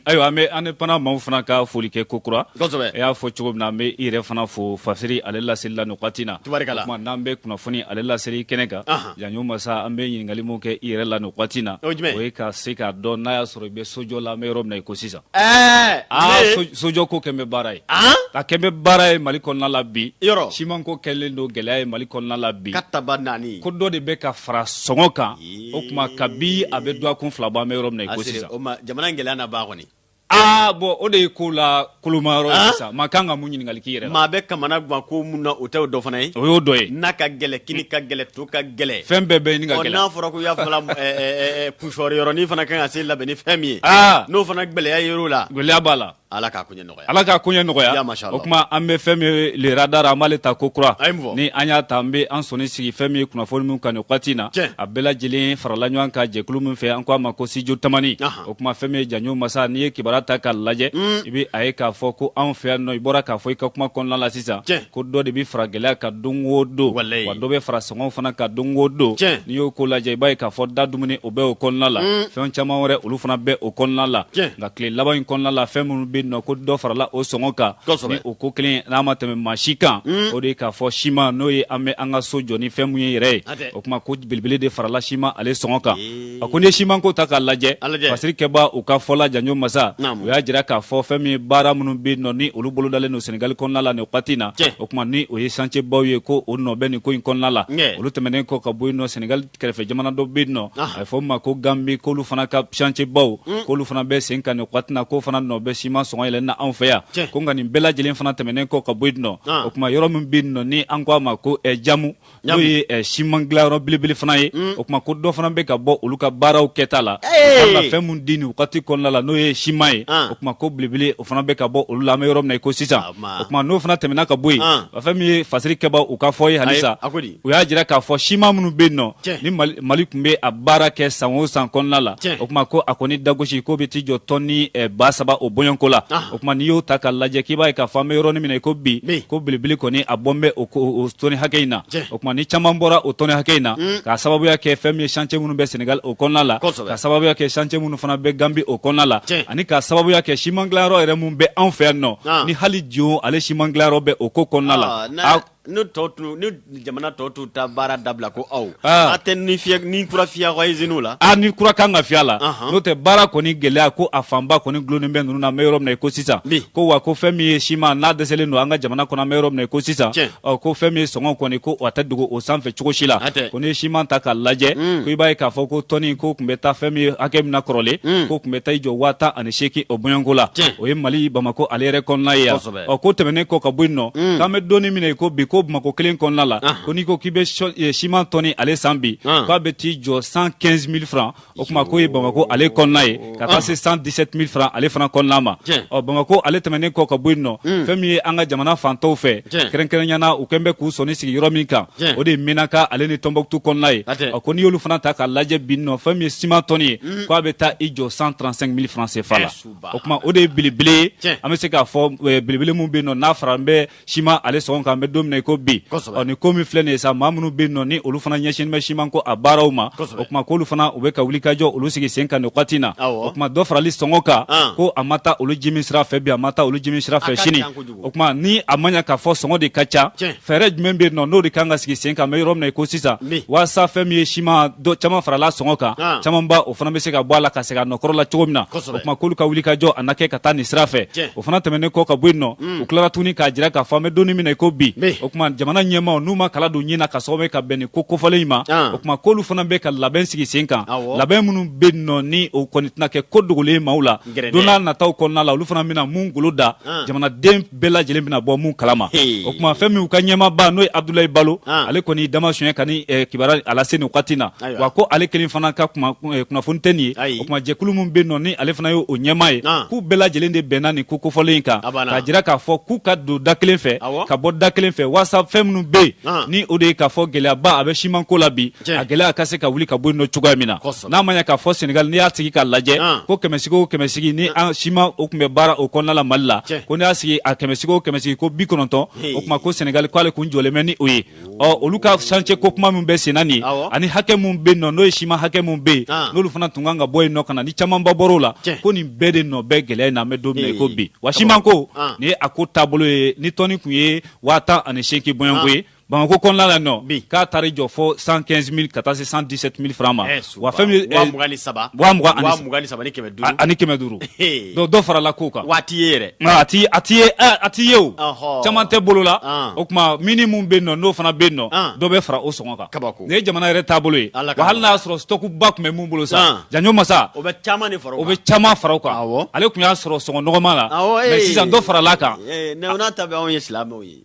ayiwa an bɛ indépendant maaw fana ka foli kɛ kokura e y'a fɔ cogo min na an bɛ i yɛrɛ fana fo fasiri ale laseli la nin wagati na n'an bɛ kunnafoni ale laseli kɛnɛ kan yan ɲɔgɔn masa an bɛ ɲininkali min kɛ i yɛrɛ la nin wagati na o ye ka se k'a dɔn n'a y'a sɔrɔ i bɛ sojɔ la an bɛ yɔrɔ min na i ko sisan Ɛɛ aa sojɔ ko kɛlen bɛ baara ye a kɛlen bɛ baara ye mali kɔnɔna la bi siman ko kɛlen don gɛlɛya ye mali kɔnɔna la bi katabaanani ko dɔ de bɛ ka fara sɔngɔ kan o tuma kabi a bɛ dɔgɔkun fila bɔ an bɛ yɔrɔ min na i ko sisan jamana gɛlɛya na ba kɔni aa bɔn o de ye ko la koloma yɔrɔ sisan maa kan ka mun ɲininkali k'i yɛrɛ la maa bɛ kamana gan ko min na o tɛ o dɔ fana ye o y'o dɔ ye na ka gɛlɛn kini ka gɛlɛn to ka gɛlɛn fɛn bɛɛ bɛ ɲini ka gɛlɛn n'a fɔra ko y'a fɔla kusɔrɔ yɔrɔnin fana kan ka se labɛn ni fɛn min ye ah! n'o fana gɛlɛya yer'o la gɛlɛya b'a la ala k'a koɲɛ nɔgɔya ala k'a koɲɛ nɔgɔya o tuma an bɛ fɛn min ye le radar an b'ale ta kokura ni an y'a ta an bɛ an sɔnni sigi fɛn min ye kunnafoni min kan nin wagati in na a bɛɛ lajɛlen farala ɲɔgɔn kan jɛkulu min fɛ an ko a ma ko studio tamani o tuma fɛn min ye janjo masa n'i ye kibaruya ta k'a lajɛ mm. i bɛ a ye k'a fɔ ko anw fɛ yan nɔ i bɔra k'a fɔ i ka kuma kɔnɔna la sisan ko dɔ de bɛ fara gɛlɛya kan don o don wa dɔ bɛ fara sɔngɔw fana kan don o don n'i y'o ko lajɛ i b'a ye k'a fɔ da dumuni o bɛ o kɔnɔna la mm. fɛn caman wɛrɛ olu fana bɛ o kɔnɔna la nka tile laban in kɔnɔna la fɛn minnu bɛ yen nɔ ko dɔ farala o sɔngɔ kan ni o ko kelen n'a ma tɛmɛ maa si kan mm. o de ye k'a fɔ siman n'o ye an bɛ an ka so jɔ ni fɛn min ye yɛrɛ ye o tuma ko belebele de farala siman ale sɔngɔ kan a ko n'i ye simanko ta k'a lajɛ fasirikɛbaaw ka fɔ la janjo masa u y'a jira k'a fɔ fɛn min ye baara minnu bɛ yen nɔ ni olu bolodalen don senegali kɔnɔna la nin wagati in na o tuma ni o ye chantier baw ye ko o nɔ bɛ nin ko in kɔnɔna la olu tɛmɛnen kɔ ka bɔ yen nɔ senegali kɛrɛfɛ jamana dɔ bɛ yen nɔ a bɛ fɔ o ma ko ganbi k'olu fana ka chantier baw hmm. k'olu fana bɛ sen kan nin wagati in na k'o fana nɔ bɛ siman sɔngɔ yɛlɛn na anw fɛ yan ko nka nin bɛɛ lajɛlen fana tɛmɛnen kɔ ka bɔ yen nɔ o tuma yɔrɔ min bɛ yen nɔ ni an ko a ma ko jamu n'o ye eh, siman dilanyɔrɔ belebele fana ye mm. o tuma ko dɔ fana bɛ ka bɔ olu ka baaraw kɛta la ka fɛn min di nin wagati kɔnɔna la n'o ye siman ye ah. o tuma ko belebele o fana bɛ ka bɔ olu la an bɛ yɔrɔ min na i ko sisan ah, o tuma n'o fana tɛmɛna ka bɔ yen ah. fɛn min ye fasirikɛbaaw u ka fɔ ye halisa u y'a jira k'a fɔ siman minnu bɛ yen nɔ ni mali tun bɛ a baara kɛ san o san kɔnɔna la o tuma ko a kɔni dagosi k'o bɛ t'i jɔ tɔni eh, ba saba o bɔɲɔgɔnko la tuma n'i y'o ta k'a lajɛ k'i b'a ye k'a fɔ an bɛ yɔrɔnin min na i ko bi ko belebele kɔni a bɔlen bɛ o tɔni hakɛ in na o tuma ni caman bɔra o tɔni hakɛ in na mm. k'a sababuya kɛ fɛn min ye chantier minnu bɛ Senegal o kɔnɔna la k'a sababuya kɛ chantier minnu fana bɛ Gambie o kɔnɔna la ani k'a sababuya kɛ siman dilanyɔrɔ yɛrɛ minnu bɛ anw fɛ yan nɔ ah. ni hali Dio ale siman dilanyɔrɔ bɛ o ko kɔnɔna la ah, Ni jamana tɔ t'u ta baara dabila ko aw a tɛ ni ni kura fiyɛ iziniw la a ni kura kan ka fiyɛ a la n'o tɛ baara kɔni gɛlɛya ko a fanba kɔni dulonnen bɛ ninnu na an bɛ yɔrɔ min na i ko sisan ko wa ko fɛn min ye siman n'a dɛsɛlen don an ka jamana kɔnɔ an bɛ yɔrɔ min na i ko sisan ko fɛn min ye sɔngɔ kɔni ko a tɛ dogo o sanfɛ cogo si la ko n'i ye siman ta k'a lajɛ ko i b'a ye k'a fɔ ko tɔni ko tun bɛ taa fɛn min ye hakɛ min na kɔrɔlen ko tun bɛ taa i jɔ waa tan ani seegin o bɔɲɔgɔnko la o ye mali bamakɔ ale yɛrɛ kɔnɔna ye ɔ k'o tɛmɛnen kɔ ka bɔ yen nɔ mm. k'an bɛ donni min na i ko bi ko bamakɔ kelen kɔnɔna la ah. ko n'i ko k'i bɛ eh, siman tɔni ale san bi ah. k'a bɛ t'i jɔ cent quinze mille francs o kuma k'o ye bamakɔ ale kɔnɔna ye ka taa ah. se cent dix sept mille francs ale fana kɔnɔna ma ɔ bamakɔ ale tɛmɛnen kɔ ka bɔ yen nɔ mm. fɛn min ye an ka jamana fan tɔw fɛ kɛrɛnkɛrɛnnenya na u kɛn bɛ k'u sɔnni sigi yɔrɔ min kan o de ye menaka ale ni tɔnbukutu kɔnɔna ye ɔ ko n'i y'olu fana ta k'a lajɛ bi nɔ fɛn min ye siman tɔni ye mm. k'a bɛ taa i jɔ cent trente cinq mille francs cfa la o kuma o de ye belebele ye an bɛ se k'a fɔ belebele min bɛ yen nɔ n'a faralen bɛ siman ale sɔngɔ kan an bɛ don min na i ko bi ɔ ni ko min filɛ nin ye sa maa minnu bɛ yen nɔ ni olu fana ɲɛsinnen bɛ siman ko a baaraw ma o kuma k'olu fana u bɛ ka wulikajɔ olu sigi sen kan nin wagati na o kuma dɔ farali sɔngɔ kan ko a ma taa olu jimi sira fɛ bi a ma taa olu jimi sira fɛ sini o kuma ni a ma ɲɛ k'a fɔ sɔngɔ de ka ca fɛɛrɛ jumɛn bɛ yen nɔ n'o de kan ka sigi sen kan an bɛ yɔrɔ min na i ko sisan walasa fɛn min ye siman caman farala sɔngɔ kan ah. caman ba o fana bɛ se ka bɔ a la ka segin a nɔkɔrɔ la cogo min na o kuma k'olu ka wulikajɔ a na kɛ ka taa nin sira fɛ o fana tɛmɛnen kɔ ka bɔ yen nɔ hmm. u tilara tuguni k'a jira k'a fɔ an bɛ donni min na i ko bi o kuma jamana ɲɛmaaw n'u ma kala don ɲin na ka sababu ye ka bɛn nin ko kofɔlen in ma ah. o kuma k'olu fana bɛ ka labɛn sigi sen kan labɛn minnu bɛ yen nɔ ni o kɔni tɛna kɛ ko dogolen ye maaw la don nataw kɔnɔna la olu fana bɛna minnu boloda jamanaden bɛɛ lajɛlen bɛna bɔ minnu kalama o kuma fɛn min u ka ɲɛmaaba n'o ye abudulayi balo ale kɔni dama suɲɛ ka nin kibaruya lase nin wagati na wa ko ale kelen fana ka kunnafoni tɛ nin ye o kuma jɛkulu min bɛ yen nɔ ni ale fana ye o ɲɛmaa ye k'u bɛɛ lajɛlen de bɛnna nin ko kofɔlen in kan k'a jira k'a fɔ k'u ka don da kelen fɛ ka bɔ da kelen fɛ walasa fɛn minnu bɛ yen ni o de ye k'a fɔ gɛlɛyaba a bɛ siman ko la bi a gɛlɛya ka se ka wuli ka bɔ yen nɔ cogoya min na n'a ma ɲɛ k'a fɔ senegali n'i y'a sigi k'a lajɛ ko kɛmɛsigi o kɛmɛsigi ni an siman o tun bɛ baara o kɔnɔna la mali la ko n'i y'a sigi a kɛmɛsigi o kɛmɛsigi ko bi kɔnɔntɔn o kuma ko senegali k'ale kun jɔlen bɛ ni o ye ɔ olu ka chantier ko kuma min bɛ senna nin ye ani hakɛ min bɛ yen nɔ n'o ye siman hakɛ min bɛ yen n'olu fana tun kan ka bɔ yen nɔ ka na ni camanba bɔr'o la ko nin bɛɛ de nɔ bɛ gɛlɛya in na an bɛ don min na i ko bi wa siman ko nin ye a ko taabolo ye ni tɔni tun ye waa tan ani seegin bɔɲɔgɔnko ye bamakɔ kɔnɔna la nɔ k'a taar'i jɔ fo cent quinze mille ka taa se cent dix sept mille francs ma eh, wa fɛn eh, ani kɛmɛ duuru donc dɔ farala kow kan wa a ti ye yɛrɛ a ti a ti ye eh, a ti ye o caman tɛ bolo la ah. o kuma mini min bɛ yen nɔ n'o fana bɛ yen nɔ ah. dɔ bɛ fara o sɔngɔ kan kabako nin ye jamana yɛrɛ taabolo ye wa hali n'a y'a sɔrɔ sitɔkuba tun bɛ mun bolo sa ah. janjo masa o bɛ caman de fara o bɛ caman fara o kan ale tun y'a sɔrɔ sɔngɔ nɔgɔma la mɛ sisan dɔ farala a kan o n'a ta bɛɛ anw ye silamɛw ye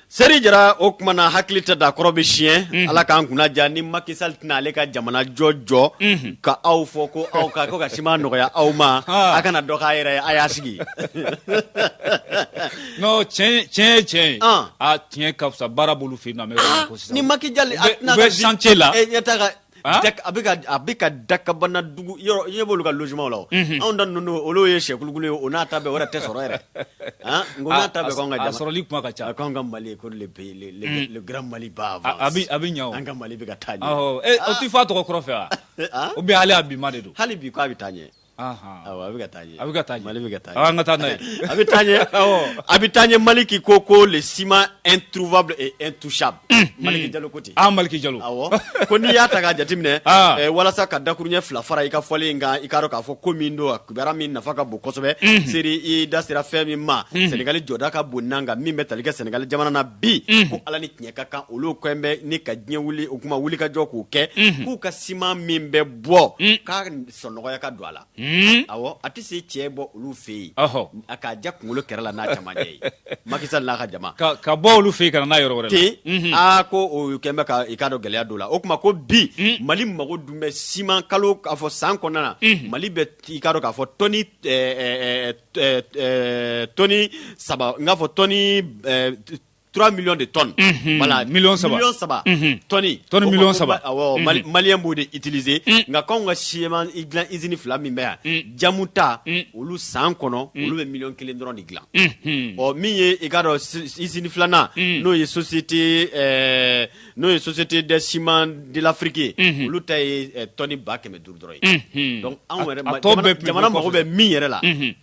Seri jara o kuma na hakili tɛ da kɔrɔ bɛ tiɲɛ ala k'an kunna jan ni maki sali tɛna ale ka jamana jɔ jɔ ka aw fɔ ko aw ka ka siman nɔgɔya aw ma a kana dɔ k'a yɛrɛ a y'a sigi tiɲɛ tiɲɛ tiɲɛ a tiɲɛ ka fisa baara b'olu fɛ ni maki la Ah? Dak- a bɛ ka a bɛ ka dakabana dugu yɔrɔ i ɲɛ b'olu ka logements la o Mhm. anw ta ninnu olu ye sɛkulukulu ye o n'a ta bɛɛ o yɛrɛ tɛ sɔrɔ yɛrɛ han nk'o n'a ta bɛɛ k'anw ka a jama sɔrɔli kuma ka ca a k'anw ka mali ko le pays le le Mm. le grand mali ba avance A- a bɛ- a bɛ ɲa o. an ka mali bɛ ka taa ɲɛ Awɔ, eh, o t'i fɔ a tɔgɔ kɔrɔ fɛ wa? Ah? Ou bien hali a bi ma de don hali bi k'a bɛ taa ɲɛ A bɛ taa a bɛ taa mali bɛ taa an ka taa n'a ye a bɛ taa a bɛ taa ɲɛ maliki ko ko le ciment introuvable et intouchable maliki jalo ko ten maliki jalo ko n'i y'a ta k'a jateminɛ walasa ka dakuruɲɛ fila fara i ka fɔlen in kan i k'a dɔn k'a fɔ ko min don a kibaruya min nafa ka bon kosɛbɛ seri i da sera fɛn min ma sɛnɛgali jɔda ka bon n kan min bɛ talikɛ sɛnɛgali jamana na bi ko ala ni tiɲɛ ka kan olu kɔn bɛ ni ka diɲɛ wuli o kuma wulikajɔ k'o kɛ k'u ka siman min bɛ bɔ sɔn nɔgɔya ka don a la awɔ a tɛ se cɛ bɔ olu fɛ yen a k'a ja kunkolo kɛrɛ la n'a camancɛ ye Macky Sall n'a ka jama ka bɔ olu fɛ yen ka n'a yɔrɔ ten aa ko o kɛlen bɛ i k'a dɔn gɛlɛya don la o tuma ko bi mali mago dun bɛ siman kalo k'a fɔ san kɔnɔna na mali bɛ i k'a dɔn k'a fɔ tɔni tɔni saba n k'a fɔ tɔni 3 millions de tonnes. Mhm. Voilà, millions saba. Millions saba. Mhm. Tɔni. Tɔni millions saba. Awɔ, mhm. Mali Malien b'o de utiliser. Nka k'anw ka siman dilan usine fila min bɛ yan, jamu ta, olu san kɔnɔ, olu bɛ million kelen dɔrɔn de dilan. Ɔ min ye i k'a dɔn usine filanan, n'o ye société ɛɛ n'o ye société des ciments de l'Afrique ye, olu ta ye tɔni ba kɛmɛ duuru dɔrɔn ye. Donc anw yɛrɛ jamana mago bɛ min yɛrɛ la.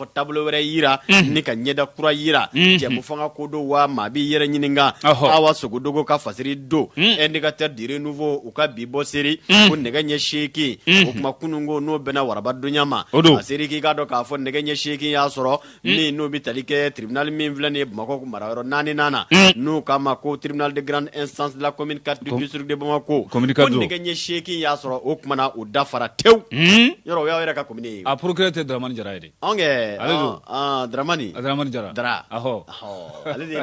fɔ taabolo wɛrɛ yira mhm. ni ka ɲɛda kura yira mhm. jɛmufanga ko don wa maa b'i yɛrɛ ɲininka awa sogodogo ka fasiri don mhm. indicateur du renouveau u ka bi bɔ seri ko nɛgɛ ɲɛ seegin o kuma kunun ko n'o bɛnna waraba donya ma a seri k'i k'a dɔn k'a fɔ nɛgɛ ɲɛ seegin y'a sɔrɔ min n'o bɛ tali kɛ tribunal min filɛ nin ye bamakɔ marayɔrɔ naaninan na n'u k'a ma ko tribunal de grande instance de la commune 4 du district de bamako ko nɛgɛ ɲɛ seegin y'a sɔrɔ o kumana o dafara tewu yɔrɔ o y'aw yɛrɛ ka A procureur tɛ Dramani Jara ye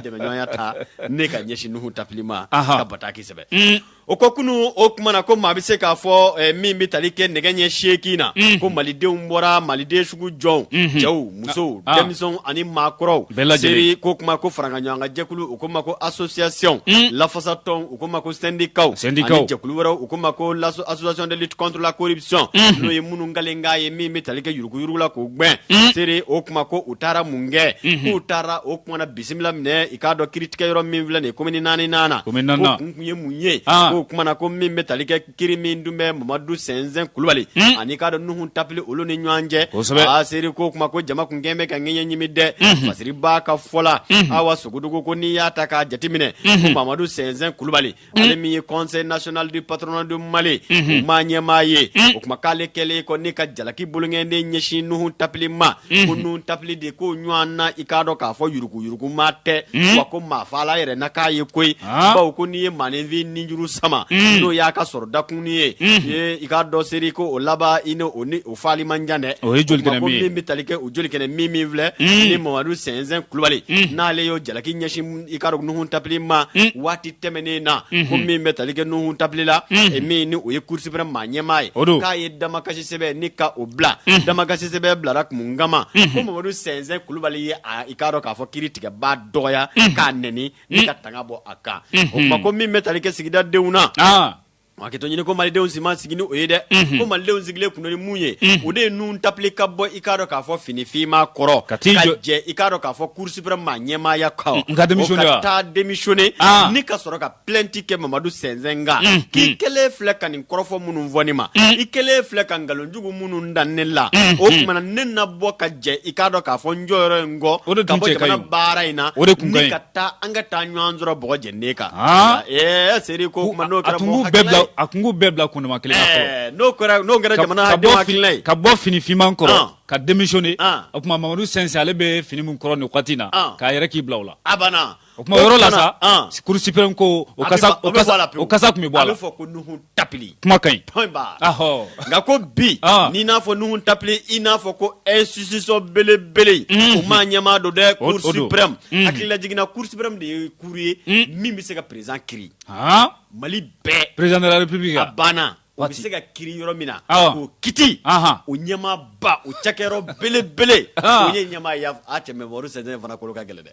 dɛmɛya ta ni ka ɲɛsin Nuhu Tapili ma ka bataki sɛbɛn o ko kunun o kumana ko maa bɛ se k'a fɔ min bɛ tali kɛ nɛgɛ ɲɛ seegin na ko malidenw bɔra maliden sugu jɔnw cɛw musow denmisɛnw ani maakɔrɔw bɛɛ lajɛlen ko kuma ko faraɲɔgɔnkan jɛkulu u k'o ma ko association lafasatɔn u k'o ma ko sendikaw sendikaw ani jɛkulu wɛrɛw u k'o ma ko association de lutte contre la corruption mhm. n'o ye minnu kalen k'a ye min bɛ tali kɛ yuruguyurugu la k'o gwɛn mhm. seri o kuma ko u taara mun kɛ mhm. k'u taara o kumana bisimila minɛ i k'a dɔn kiiritigɛ yɔrɔ min filɛ nin ye komini naaninan na ko kun kun ye mun ye ah. k'o kumana ko min bɛ tali kɛ kiri min dun bɛ mamadu sɛnsɛn kulubali hmm. ani i k'a dɔn nuhun tapili olu ni ɲɔgɔn cɛ a seri ko kuma ko jama kun kɛn bɛ ka ŋɛɲɛ ɲimi dɛ hmm. fasiri b'a ka fɔ la hmm. awa sogodogo ko n'i y'a ta k'a jateminɛ ko mamadu sɛnsɛn kulubali ale min ye conseil national du patronat du mali o maa ɲɛmaa ye o kuma k'ale kɛlen kɔ ni ka jalaki boloŋɛnden ɲɛsin nuhun tapili ma ko nuhun tapili de k'o ɲɔgɔn na i k'a dɔn k'a fɔ yurugu maa tɛ wa ko maafaala yɛrɛ n' k'a ye koyi bawo ko n'i ye maaninfin nijuru sama n'o y'a ka sɔrɔ dakun ye i k'a dɔn seri ko o laban i o ni o faali man jan dɛ o ye joli min bɛ tali kɛ o jolikɛnɛ min filɛ ni mamadu sɛnsɛn kulubali n'ale y'o jalaki ɲɛsin i k'a dɔn nuhun tapili ma waati tɛmɛnen na ko min bɛ tali kɛ nuhun tapili la min ni o ye cour suprême maa ɲɛmaa ye o don k'a ye damakasi sɛbɛn ni ka o bila damakasi sɛbɛn bilara mun kama ko mamadu sɛnsɛn kulubali ye i k'a dɔn k'a fɔ kiritigɛbaa dɔgɔya k'a nɛni ni ka tanga bɔ a kan o kuma ko min bɛ tali kɛ sigida denw na hakɛto ɲini ko malidenw si ma sigi ni o ye dɛ ko malidenw sigilen tun ni mun ye o de ye nuhun tapili ka bɔ i k'a dɔn k'a fɔ finifinman kɔrɔ ka jɛ i k'a dɔn k'a fɔ cour suprême maa ɲɛmaaya kan ka taa démissionner ni ka sɔrɔ plainte kɛ mamadu sɛnsɛn kan mm, k'i mm. kɛlen filɛ ka nin kɔrɔfɔ minnu fɔ ne ma mm. i kɛlen filɛ ka nkalonjugu minnu da ne la o tuma na ne na bɔ ka jɛ i k'a dɔn k'a fɔ n jɔyɔrɔ in kɔ ka bɔ jamana baara in na ni ka taa an ka taa ɲɔgɔn sɔrɔ bɔgɔ jɛnden kan ah. ɛɛ seri ko kuma n'o kɛra mɔgɔ hakilila ye a kun b'u bɛɛ bila kundama kelen na fɔlɔ eh, n'o kɛra n'o kɛra jamana denw hakilila ye ka bɔ finifinman kɔrɔ ah. ka démissionner ah. o tuma mamadu sɛnsɛn ale bɛ fini min kɔrɔ nin wagati in na k'a yɛrɛ k'i bila o la a banna o tuma yɔrɔ la sa cour suprême ko o kasa tun bɛ bɔ a la a bɛ fɔ ko nuhun tapili kuma ka ɲi point barre nka ko bi n'i n'a fɔ nuhun tapili i n'a fɔ ko institution belebele o maa ɲɛmaa don dɛ cour suprême hakililajigin na cour suprême de ye cour ye min bɛ se ka président kiri mali bɛɛ président de la république a banna o bɛ se ka kiri yɔrɔ min na k'o kiti o ɲɛmaaba o cakɛyɔrɔ belebele o ye ɲɛmaa ye a cɛ mamadu sɛnsɛn fana kolo ka gɛlɛn dɛ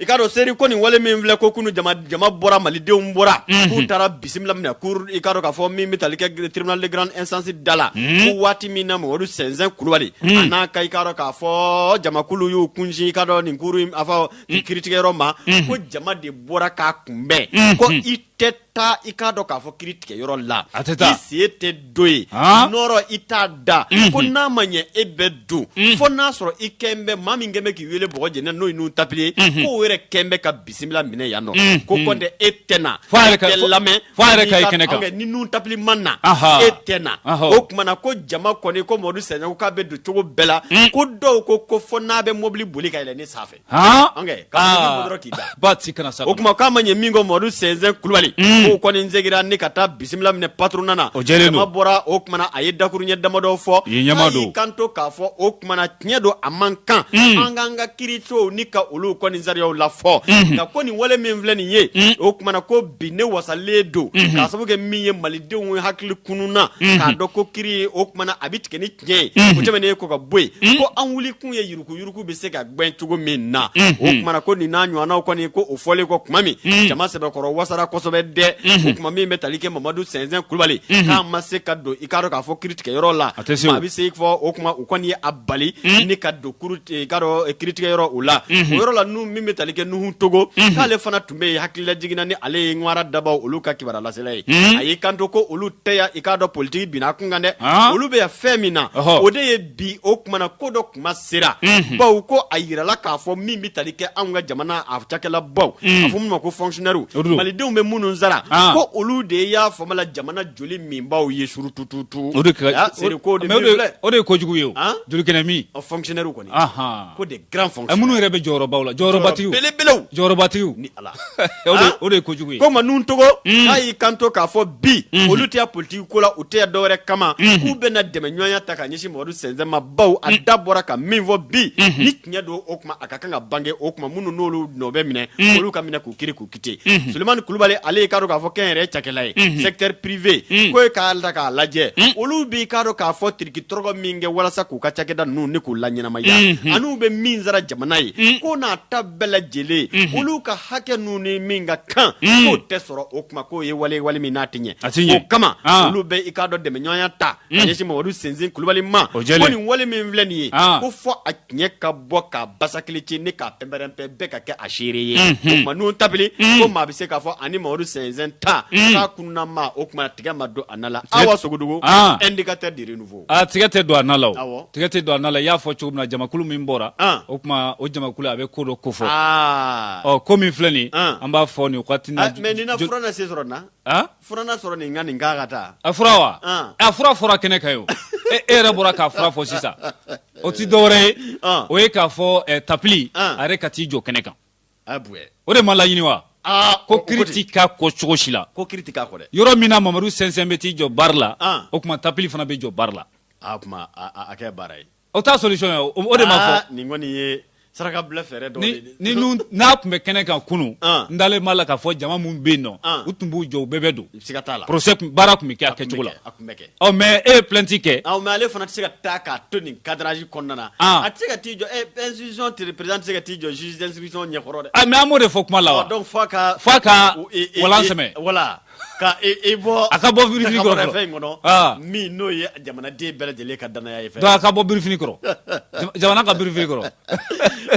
i k'a dɔn seri ko nin wale min filɛ ko kunu jama bɔra malidenw bɔra Mhm. k'u taara bisimila minɛ cour i k'a dɔn k'a fɔ min bɛ tali kɛ tribunal de grande instance da la Mhm. ko waati min na mamadu sɛnsɛn kulubali Mhm. a n'a ka i k'a dɔn k'a fɔ jamakulu y'u kunsin i k'a dɔn nin cour in a fɔ nin kiritigɛyɔrɔ ma Mhm. ko jama de bɔra k'a kunbɛn Mhm. ko i tɛ taa i k'a dɔn k'a fɔ kiri tigɛ yɔrɔ la a tɛ taa i sen tɛ don ye nɔrɔ i t'a da ko n'a ma ɲɛ e bɛ don fo n'a sɔrɔ i kɛn bɛ maa min kɛn bɛ k'i wele bɔgɔ jɛnɛ n'o ye nuhun tapili ye k'o yɛrɛ kɛn bɛ ka bisimila minɛ yan nɔ ko kɔntɛ e tɛ na e tɛ lamɛn fo a yɛrɛ ka ye kɛnɛ kan ni nuhun tapili ma na e tɛ na o tuma na ko jama kɔni ko Mamadu Sɛnsɛn ko k'a bɛ don cogo bɛɛ la ko dɔw ko ko fo n'a bɛ mobili boli ka yɛlɛn ne sanfɛ o tuma k'a ma ɲɛ min ko madu sɛnsɛn kulubali mm. k'o kɔni seginna ni ka taa bisimila minɛ patronat jama bɔra o tumana a ye dakuruɲɛ damadɔ fɔ y'i kanto k'a fɔ o tumana tiɲɛ don a man kan mm. an k'an ka kirisow ni ka olu kɔni sariyaw la fɔ mm-hmm. nka ko nin wale min filɛ nin ye mm. o tumana ko bi ne wasalen don mm-hmm. k'a sababu kɛ min ye malidenw hakili kununna mm-hmm. k'a dɔn ko kiri o tumana a bɛ tigɛ ni Gɛn o tɛmɛnen kɔ ka bɔ yen ko an wuli kun ye yurukuyuruku bɛ se ka gɛn cogo min na o tumana ko nin n'a ɲɔgɔnnaw kɔni ko o fɔlen kɔ tuma min jama sɛbɛkɔrɔ wasara kosɛbɛ dɛ tuma min bɛ tali kɛ mamadu sɛnsɛn kulubali k'a ma se ka don i k'a dɔn k'a fɔ kiritigɛyɔrɔ la a tɛ se a bɛ se fɔ o tuma u kɔni ye a bali ni ka don i k'a dɔn kiritigɛyɔrɔ o la o yɔrɔ la n min bɛ tali kɛ nuhu togo k'ale fana tun bɛ hakililajigin na ni ale ye ŋwara dabaw olu ka kibaruyalasela ye hmm. a y'i kanto ko olu tɛ yan i k'a dɔn politiki binna a kun kan dɛ ah. olu bɛ yan fɛn min na o de ye bi o kumana ko dɔ kuma sera hmm. bawo ko a yirala k'a fɔ min bɛ tali kɛ anw ka jamana a cakɛlabaw hmm. a fɔ minnu ma ko fonctionnaires malidenw bɛ minnu sara ah. ko olu de y'a fanba la jamana joli minbaaw ye surutututu o de ko de o de ye kojugu ye o ah. joli kɛnɛ min fonctionnaires Ahan, ko des grands fonctionnaires minnu yɛrɛ bɛ jɔyɔrɔbaw la, jɔyɔrɔbatigiw, jɔyɔrɔ belebelew, jɔyɔrɔbatigiw, ni Ala, o de ye kojugu ye, ko o tuma Nuhu Togo, un, k'a y'i kanto k'a fɔ bi, unhun, olu tɛ yan politique ko la, u tɛ yan dɔwɛrɛ kama, unhun, k'u bɛna dɛmɛɲɔgɔnya ta ka ɲɛsin Mamadu Sɛnsɛn ma bawo a da bɔra ka min fɔ bi, unhun, ni tiɲɛ don o tuma a ka kan ka bange o tuma minnu n'olu nɔ bɛ minɛ, un, olu ka minɛ k'u kiiri k'u solimani kulubali ale y'i k'a dɔn k'a fɔ kɛnyɛrɛ cakɛla ye secteur privé ko ye k'a ta k'a lajɛ olu b'i k'a dɔn k'a fɔ tiriki tɔrɔgɔ min kɛ walasa k'u ka cakɛda ninnu ni k'u laɲɛnamaya an'u bɛ min sara jamana ye ko n'a ta bɛɛ lajɛlen olu ka hakɛ ninnu ni min ka kan k'o tɛ sɔrɔ o kuma k'o ye wale wale min n'a tɛ ɲɛ a o kama olu bɛ i k'a dɔn dɛmɛɲɔgɔnya ta ka ɲɛsin mamadu sɛnsɛn kulubali ma nin wale min filɛ nin ye ko fɔ tiɲɛ ka bɔ ka basakili ci ni k'a pɛnpɛrɛnpɛn bɛɛ ka kɛ a seere ye o tuma Nuhu Tapili ko maa bɛ se k'a fɔ ani Mamadu sɛnsɛn ta k'a kununna maa o tuma tigɛ ma don a na la Awa Sogodogo indicateur du renouveau a tigɛ tɛ don a na la o tigɛ tɛ don a na la i y'a fɔ cogo min na jamakulu min bɔra o tuma o jamakulu a bɛ ko dɔ kofɔ ɔ ko min filɛ nin ye an b'a fɔ nin wagati in na mais nin na fura na se sɔrɔ nin na fura na sɔrɔ nin n ka nin k'a ka taa a fura wa a fura fɔra kɛnɛ kan ye o e yɛrɛ bɔra k'a fura fɔ sisan o ti dɔwɛrɛ ye ah. o ye k'a fɔ eh, tapili ah. a yɛrɛ ka t'i jɔ kɛnɛ kan ah, o de ma laɲini wa ko kiri ti k'a kɔ cogo si la yɔrɔ min na mamadu sɛnsɛn bɛ t'i jɔ bari la o tuma tapili fana bɛ jɔ bari la o t'a solution ye o de ma fɔ saraka bila fɛɛrɛ dɔ ni n'a tun bɛ kɛnɛ kan kunun ah. n dalen b'a la k'a fɔ jama min bɛ yen nɔ ah. u tun b'u jɔ u bɛɛ bɛ don siga t'a la procès baara tun bɛ kɛ a kɛcogo la a tun bɛ kɛ ɔ mais e ye plainte kɛ ɔ mais ale fana tɛ se ka taa k'a to nin cadrage kɔnɔna na ah. a tɛ se ka t'i jɔ ɛ institution tɛ président tɛ se ka t'i jɔ juge d'instruction ɲɛkɔrɔ dɛ a mais an m'o de fɔ kuma la wa donc f'a ka f'a ka walan sɛmɛ voilà Ka i bɔ a ka bɔ birifini kɔrɔ ka bɔ fɛn in kɔnɔ, aa, min n'o ye jamanaden bɛɛ lajɛlen ka danaya ye fɛn donc a ka bɔ birifini kɔrɔ jamana ka birifini kɔrɔ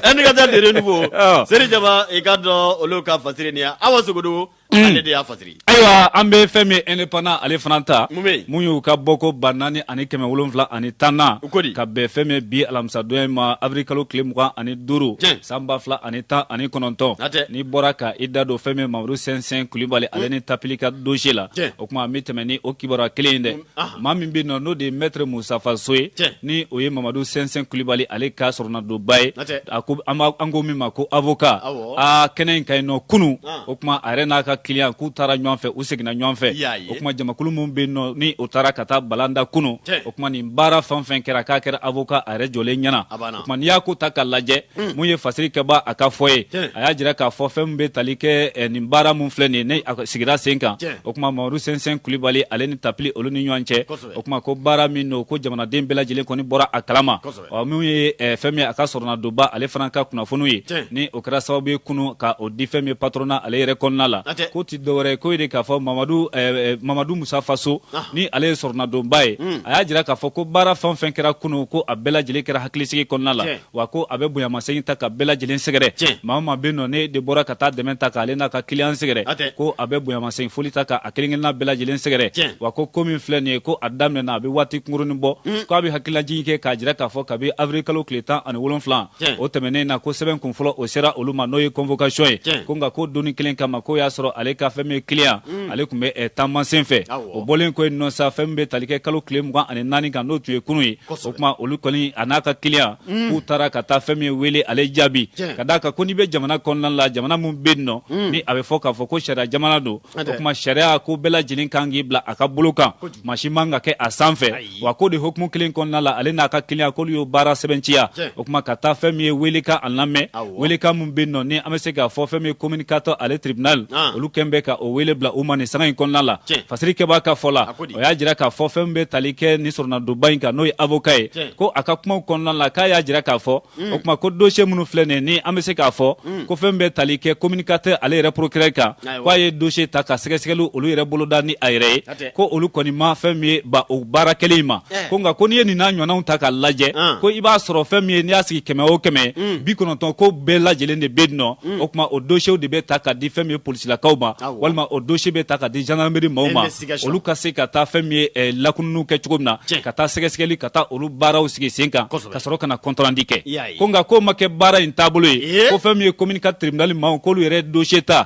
Indicateur du Renouveau. seri jama i ka dɔn olu ka fasiri nin ye awa sogodogo ale de y'a fasiri ayiwa an bɛ fɛn min ye indépendant ale fana ta Mun bɛ yen? mun y'u ka bɔko ba naani ani kɛmɛ wolonfila ani tan na u ko di ka bɛn fɛn min bi alamisadon in ma avril kalo tile mugan ani duuru san ba fila ani tan ani kɔnɔntɔn n'i bɔra ka i da don fɛn min mamadu sɛnsɛn kulibali ale ni tapili ka dosie la o kuma an bɛ tɛmɛ ni o kibaruya kelen in dɛ maa min bɛ nɔ n'o de ye mɛtre musafa so ye ni o ye mamadu sɛnsɛn kulibali ale ka sɔrɔnadonba ye a ko an ko min ma ko avoka aa kɛnɛ in kan yen nɔ kunu o kuma a yɛrɛ n'a ka kiliyan k'u taara ɲɔgɔn fɛ u seginna ɲɔgɔn fɛ o kuma jamakulu min bɛ nɔ ni o taara ka taa balanda kunu kuma nin baara fɛn o fɛn kɛra k'a kɛra avoka a yɛrɛ jɔlen ɲɛna o kuma n'i y'a ko ta ka lajɛ hmm. mun ye fasiri kɛba a ka fɔ ye a y'a jira k'a fɔ fɛn min bɛ tali kɛ eh, nin baara min filɛ nin ye ni a sigira sen kan o kuma mamadu sɛnsɛn kulibali ale ni tapili olu ni ɲɔgɔn cɛ o kuma ko baara min don ko jamanaden bɛɛ lajɛlen kɔni bɔra a kalama ɔ minnu ye eh, fɛn min a ka sɔrɔnadonba ale fana ka kunnafoniw ye ni o kɛra sababu ye kunu ka o di fɛn min patrona ale yɛrɛ kɔnɔna la k'o ti dɔwɛrɛ ye ko ye de k'a fɔ mamadu eh, eh, mamadu musafa so ah. ni ale ye sɔrɔnadonba ye hmm. a y'a jira k'a fɔ ko baara fɛn fɛn kɛra kunu ko a bɛɛ lajɛlen kɛra hakilisigi kɔnɔna la wa ko a bɛ bonyamasegin ta ka bɛɛ lajɛlen sɛgɛrɛ maa o maa bɛ nɔ n'e de bɔra ka taa dɛmɛ ta k'ale n'a ka kiliyan sɛgɛrɛ ko a bɛ bonyamasegin foli ta ka a kelenkelenna bɛɛ lajɛlen sɛgɛrɛ wa ko ko min filɛ nin ye ko a daminɛna a bɛ waati kunkurunin bɔ mm. ko a bɛ hakililajigin kɛ k'a jira k'a fɔ kabi avril kalo tile tan ani wolonfila o tɛmɛnen na ko sɛbɛn kun fɔlɔ o sera olu ma n'o ye convocation ye ko nka ko don in kelen kama k'o y'a sɔrɔ ale ka fɛn min ye kiliyan mm. ale tun bɛ eh, taama sen fɛ o bɔlen kɔ yen nɔ sa fɛn min bɛ tali kɛ kalo tile mugan ani naani kan n'o tun ye kunun ye o kuma olu kɔni a n'a ka kiliyan mm. k'u taara ka taa fɛn min ye wele ale jaabi ka d'a kan ko n'i bɛ jamana kɔnɔna la jamana min bɛ yen nɔ ni a bɛ fɔ k'a fɔ ko sariya jamana don o kuma sariya ko bɛɛ lajɛlen kan k'i bila a ka bolo kan maa si man ka kɛ a sanfɛ wa k'o de hukumu kelen kɔnɔna la ale n'a ka kiliyan k'olu y'o baara sɛbɛntiya o kuma ka taa fɛn min ye weelekan a lamɛn weelekan min bɛ nɔ ni an bɛ se k'a fɔ fɛn min ye commune quatre ale tiribinali olu kɛlen bɛ ka o weele bila u ma nin sanga in kɔnɔna la fasiri kɛbaa ka fɔ la o y'a jira k'a fɔ fɛn min bɛ tali kɛ nin sɔrɔnadonba in kan n'o ye avoka ye ko a ka kumaw kɔnɔna la k'a y'a jira k'a fɔ mm. o tuma ko dosiye minnu filɛ nin ni an bɛ se k'a fɔ mm. ko fɛn min bɛ tali kɛ commune quatre ale yɛrɛ procureur kan ko a ye dosiye ta ka sɛgɛsɛgɛliw olu yɛrɛ boloda ni a yɛrɛ ye ko olu kɔni ma fɛn min ye ban o baara kɛlen in ma eh. ko nka ko n'i ye nin n'a ɲɔgɔnnaw ta ka lajɛ ah. ko i b'a sɔrɔ fɛn min ye n'i y'a sigi kɛmɛ o kɛmɛ mm. bi kɔnɔntɔn ko bɛɛ lajɛlen de bɛ yen nɔ o tuma o dosiyew de bɛ ta ka di fɛn min ye polisilakaw ma walima o dosiye bɛ ta ka di gendarmerie maaw ma olu ka se ka taa fɛn min ye lakununiw kɛ cogo min na ka taa sɛgɛsɛgɛli ka taa olu baaraw sigi sen kan ka sɔrɔ ka na compte rendu kɛ ko nka ko ma kɛ baara in taabolo ye ko fɛn min ye commune quatre tribunal maaw k'olu yɛrɛ dosiye ta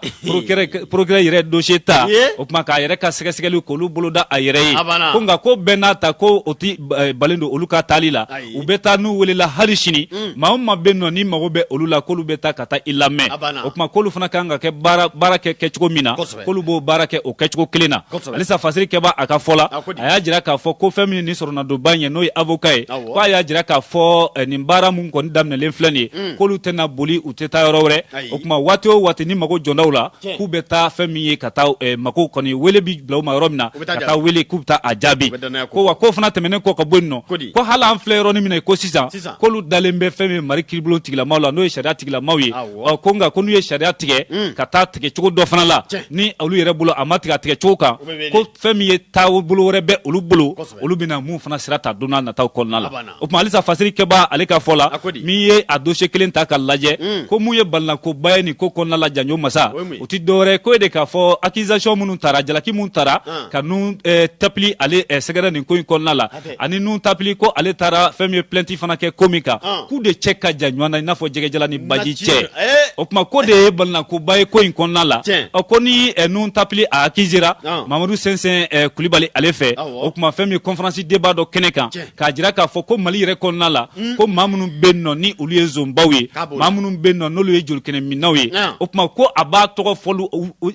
procureur yɛrɛ dosiye ta o tuma k'a yɛrɛ ka sɛgɛsɛgɛli k'olu boloda a yɛrɛ ye ko nka ko bɛɛ n'a ta ko o tɛ balan don olu ka taali la u bɛ taa n'u welela hali sini maa o maa bɛ nɔ ni mago bɛ olu la k'olu bɛ taa ka taa i lamɛn o tuma k'olu fana kan ka kɛ baara kɛ kɛcogo min na k'olu b'o baara kɛ o kɛcogo kelen na halisa fasiri kɛba a ka fɔ la a y'a jira k'a fɔ ko fɛn min ye nin sɔrɔnadonba in ye n'o ye avoka ye ko a y'a jira k'a fɔ eh, nin baara min kɔni daminɛlen filɛ nin ye mm. k'olu tɛna boli u tɛ taa yɔrɔ wɛrɛ o tuma waati o waati ni mago jɔra u la k'u bɛ taa fɛn min ye ka taa eh, mago kɔni wele bi bila u ma yɔrɔ min na ka taa wele k'u bɛ taa a jaabi ko wa k'o fana tɛmɛnen kɔ ka bɔ yen nɔ ko hali an filɛ yɔrɔnin min na ko sisan k'olu dalen bɛ fɛn min ye mali kiiribulon tigilamaw la n'o ye sariya tigilamaw ye ɔ ko nka ko n'u ye sariya tigɛ hmm. ka taa tigɛcogo dɔ fana la ni olu yɛrɛ bolo a ma tigɛ a tigɛcogo kan ko fɛn min ye taabolo wɛrɛ bɛ olu bolo olu bɛna mun fana sira ta don n'a nataw kɔnɔna la o tuma halisa fasiri kɛba ale ka fɔ la min ye a dosiye kelen ta ka lajɛ hmm. ko mun ye balinakoba ye nin ko kɔnɔna la janjo masa o tɛ dɔwɛrɛ ko ye de k'a fɔ accusation minnu tara jalaki minnu tara ah. ka nun eh, tapili ale eh, sɛgɛrɛ nin ko in kɔnɔna la ani nun tapili ko ale taara fɛn min ye plainte fana kɛ ko min kan ah. k'u de cɛ ka jan ɲɔgɔn na i n'a fɔ jɛgɛjalan ni baji cɛ eh. o tuma k'o de ye balinakoba ye ko in kɔnɔna la ko ni eh, nun tapili a accusera ah. mamadu sɛnsɛn eh, kulibali ale fɛ o tuma fɛn min ye conférence débat dɔ kɛnɛ kan k'a jira k'a fɔ ko mali yɛrɛ kɔnɔna la hmm. ko maa minnu bɛ nɔ ni olu ye zonbaw ye maa minnu bɛ nɔ n'olu ye jolikɛnɛminnaw ye ah. o tuma ko a b'a tɔgɔ fɔlu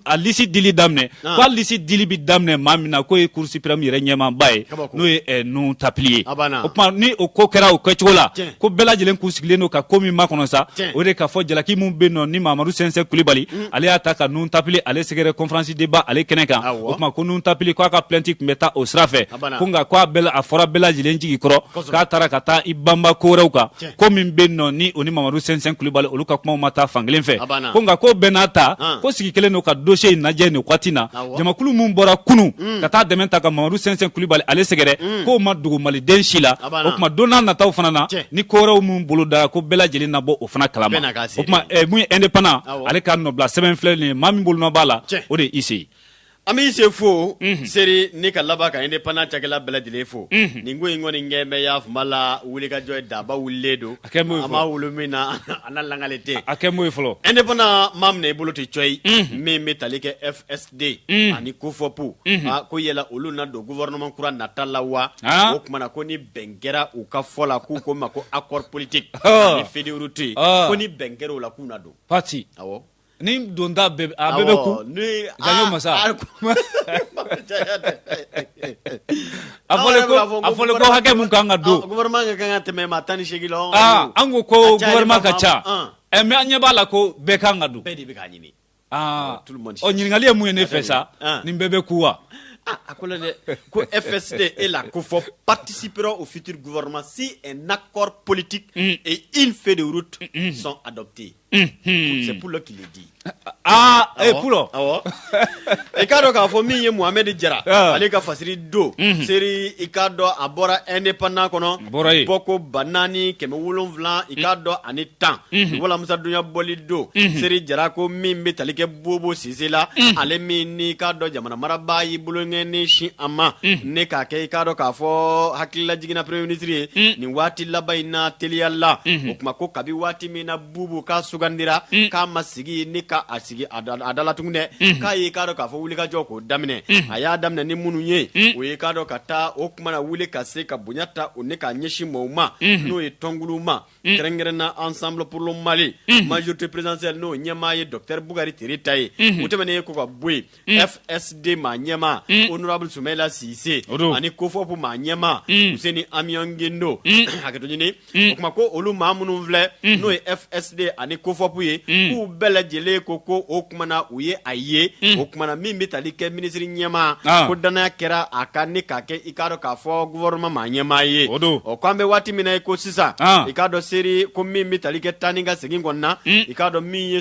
a lisi dili daminɛ ah. ko a lisi dili bi daminɛ maa min na k'o ye cour suprême yɛrɛ ɲɛmaaba ye n'o ye eh, nun tapili ye ah, o tuma ni o ko kɛra o kɛcogo la ko bɛɛ lajɛlen k'u sigilen don ka ko min makɔnɔ sa o de k'a fɔ jalaki min bɛ nɔ ni mamadu sɛnsɛn kulibali mm. ale y'a ta ka nun tapili ale sɛgɛrɛ conférence débat ale kɛnɛ kan o tuma ko nun tapili k'a ka plainte tun bɛ taa o sira fɛ ko nka ko a fɔra bɛɛ lajɛlen jigi kɔrɔ k'a taara ka taa i banba ko wɛrɛw kan ko min bɛ nɔ ni o ni mamadu sɛnsɛn kulubali olu ka kumaw ma taa fankelen fɛ ko nka ko bɛɛ n'a ta ko sigi kɛlen don ka dosiye in lajɛ nin waati na jamakulu min bɔra kunun mm. ka taa dɛmɛ ta ka mamadu sɛnsɛn kulubali ale sɛgɛrɛ mm. k'o ma dogo maliden si la o tuma don n'a nataw fana na ni kowɛrɛw min bolo dara ko bɛɛ lajɛlen na bɔ o fana kalama o tuma mun ye indépendant ale ka nɔbila sɛbɛn filɛ nin ye maa min bolonɔ b'a la o de ye ise ye An b'i sen fo seri ni ka laban ka indépendant cakɛla bɛɛ lajɛlen fo nin ko in kɔni ɲɛ bɛ y'a tun' la wulikajɔ ye daba wulilen don a ma wolo min na an lagale tɛ a kɛ ye fɔlɔ indépendant ma minɛ i bolo tɛ co ye min bɛ tali kɛ fsd ani kofɔpu ko yala olu na don gouvernement kura nata la wa o kumana ko ni bɛn kɛra u ka fɔ la k'u ko ma ko accord politique ni feuille de route ye ko ni bɛn kɛra o la k'u na don pati Ni don bɛɛ bɛ kun masa a ko hakɛ min ka ka tɛmɛ ma tan ni seg an ko ko ka ca mɛ an ɲɛ b'a la ko bɛɛ ka kan ka don de bɛ'a ɲini ɲininkakali ye mun ye ne fɛ sa ni bɛɛ bɛ ku wa a ko dɛ ko e fɛ se e la ko fɔ patisi pe o fitiri gma si nakɔ politi e in fɛ de sɔn a dɔ bɛ yen C'est poulo qui le dit aaa a ye ku i k'a dɔn k'a fɔ min ye mohamɛd jara ale ka fasiri don seri i k'a dɔn a bɔra indépendant kɔnɔ bɔko ba naani kɛmɛ wolonwula i k'a dɔn ani tan alamisadon ya bɔli don seri jara ko min bɛ tali kɛ bubu sise la ale min ni k'a dɔn jamana maraba y'i bolokɔni sin a ma ni k'a kɛ i k'a dɔn k'a fɔ hakilila jigin na premier ministre ye nin waati laban in na teliyala o kuma ko kabi waati min na bubu ka sugandira k'a masigi ni ka a sigi a dala tugun dɛ k'a y'i k'a dɔn k'a fɔ wulikajɔ ko daminɛ a y'a daminɛ ni minnu ye o y'i k'a dɔn ka taa o kuma na wuli ka se ka bonya ta u ni k'a ɲɛsin maaw ma n'o ye tɔnonkulu ma kɛrɛnkɛrɛn na ensemble pour le mali majorité présidentielle n'o ɲɛmaa ye docteur bukari tereta ye u tɛmɛnen yen kɔ ka bɔ yen Mm. fsd maa ɲɛmaa mm. honorable sumaila sise ani kofɔpu maa ɲɛmaa mm. useni amiyɔn gindo hakɛto ɲini o kuma ko olu maa minnu filɛ n'o ye fsd ani kofɔpu ye k'u bɛɛ lajɛlen ko ko o kumana u ye a ye o kumana min bɛ tali kɛ minisiri ɲɛmaa ah. ko dannaya kɛra a kan ni k'a kɛ i k'a dɔn k'a fɔ gouvernement maa ɲɛmaa ye o ko an bɛ waati min na i ko sisan ah. i k'a dɔn seri ko min bɛ tali kɛ taa ni ka segin kɔnɔna i k'a dɔn min ye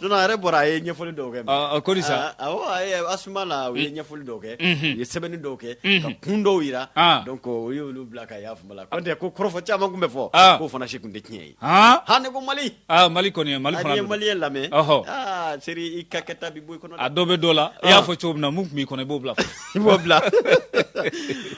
Yɛrɛ bɔra a ye ɲɛfɔli dɔw kɛ na u ye ɲɛfɔli dɔw kɛ u ye sɛbɛnni dɔw kɛ ka kun dɔw jira u y'olu bila ka yaa tɛ ko kɔrɔfɔ caman tun bɛ fɔ k'o fana si tun tɛ tiɲɛ ye ha ne ko mali mali kɔni mali mali ye lamɛn seri i ka kɛta bɛ bɔ i kɔnɔ a dɔ bɛ dɔ la i y'a fɔ cogo min na tun' kɔnɔ i b'o bila I b'o bila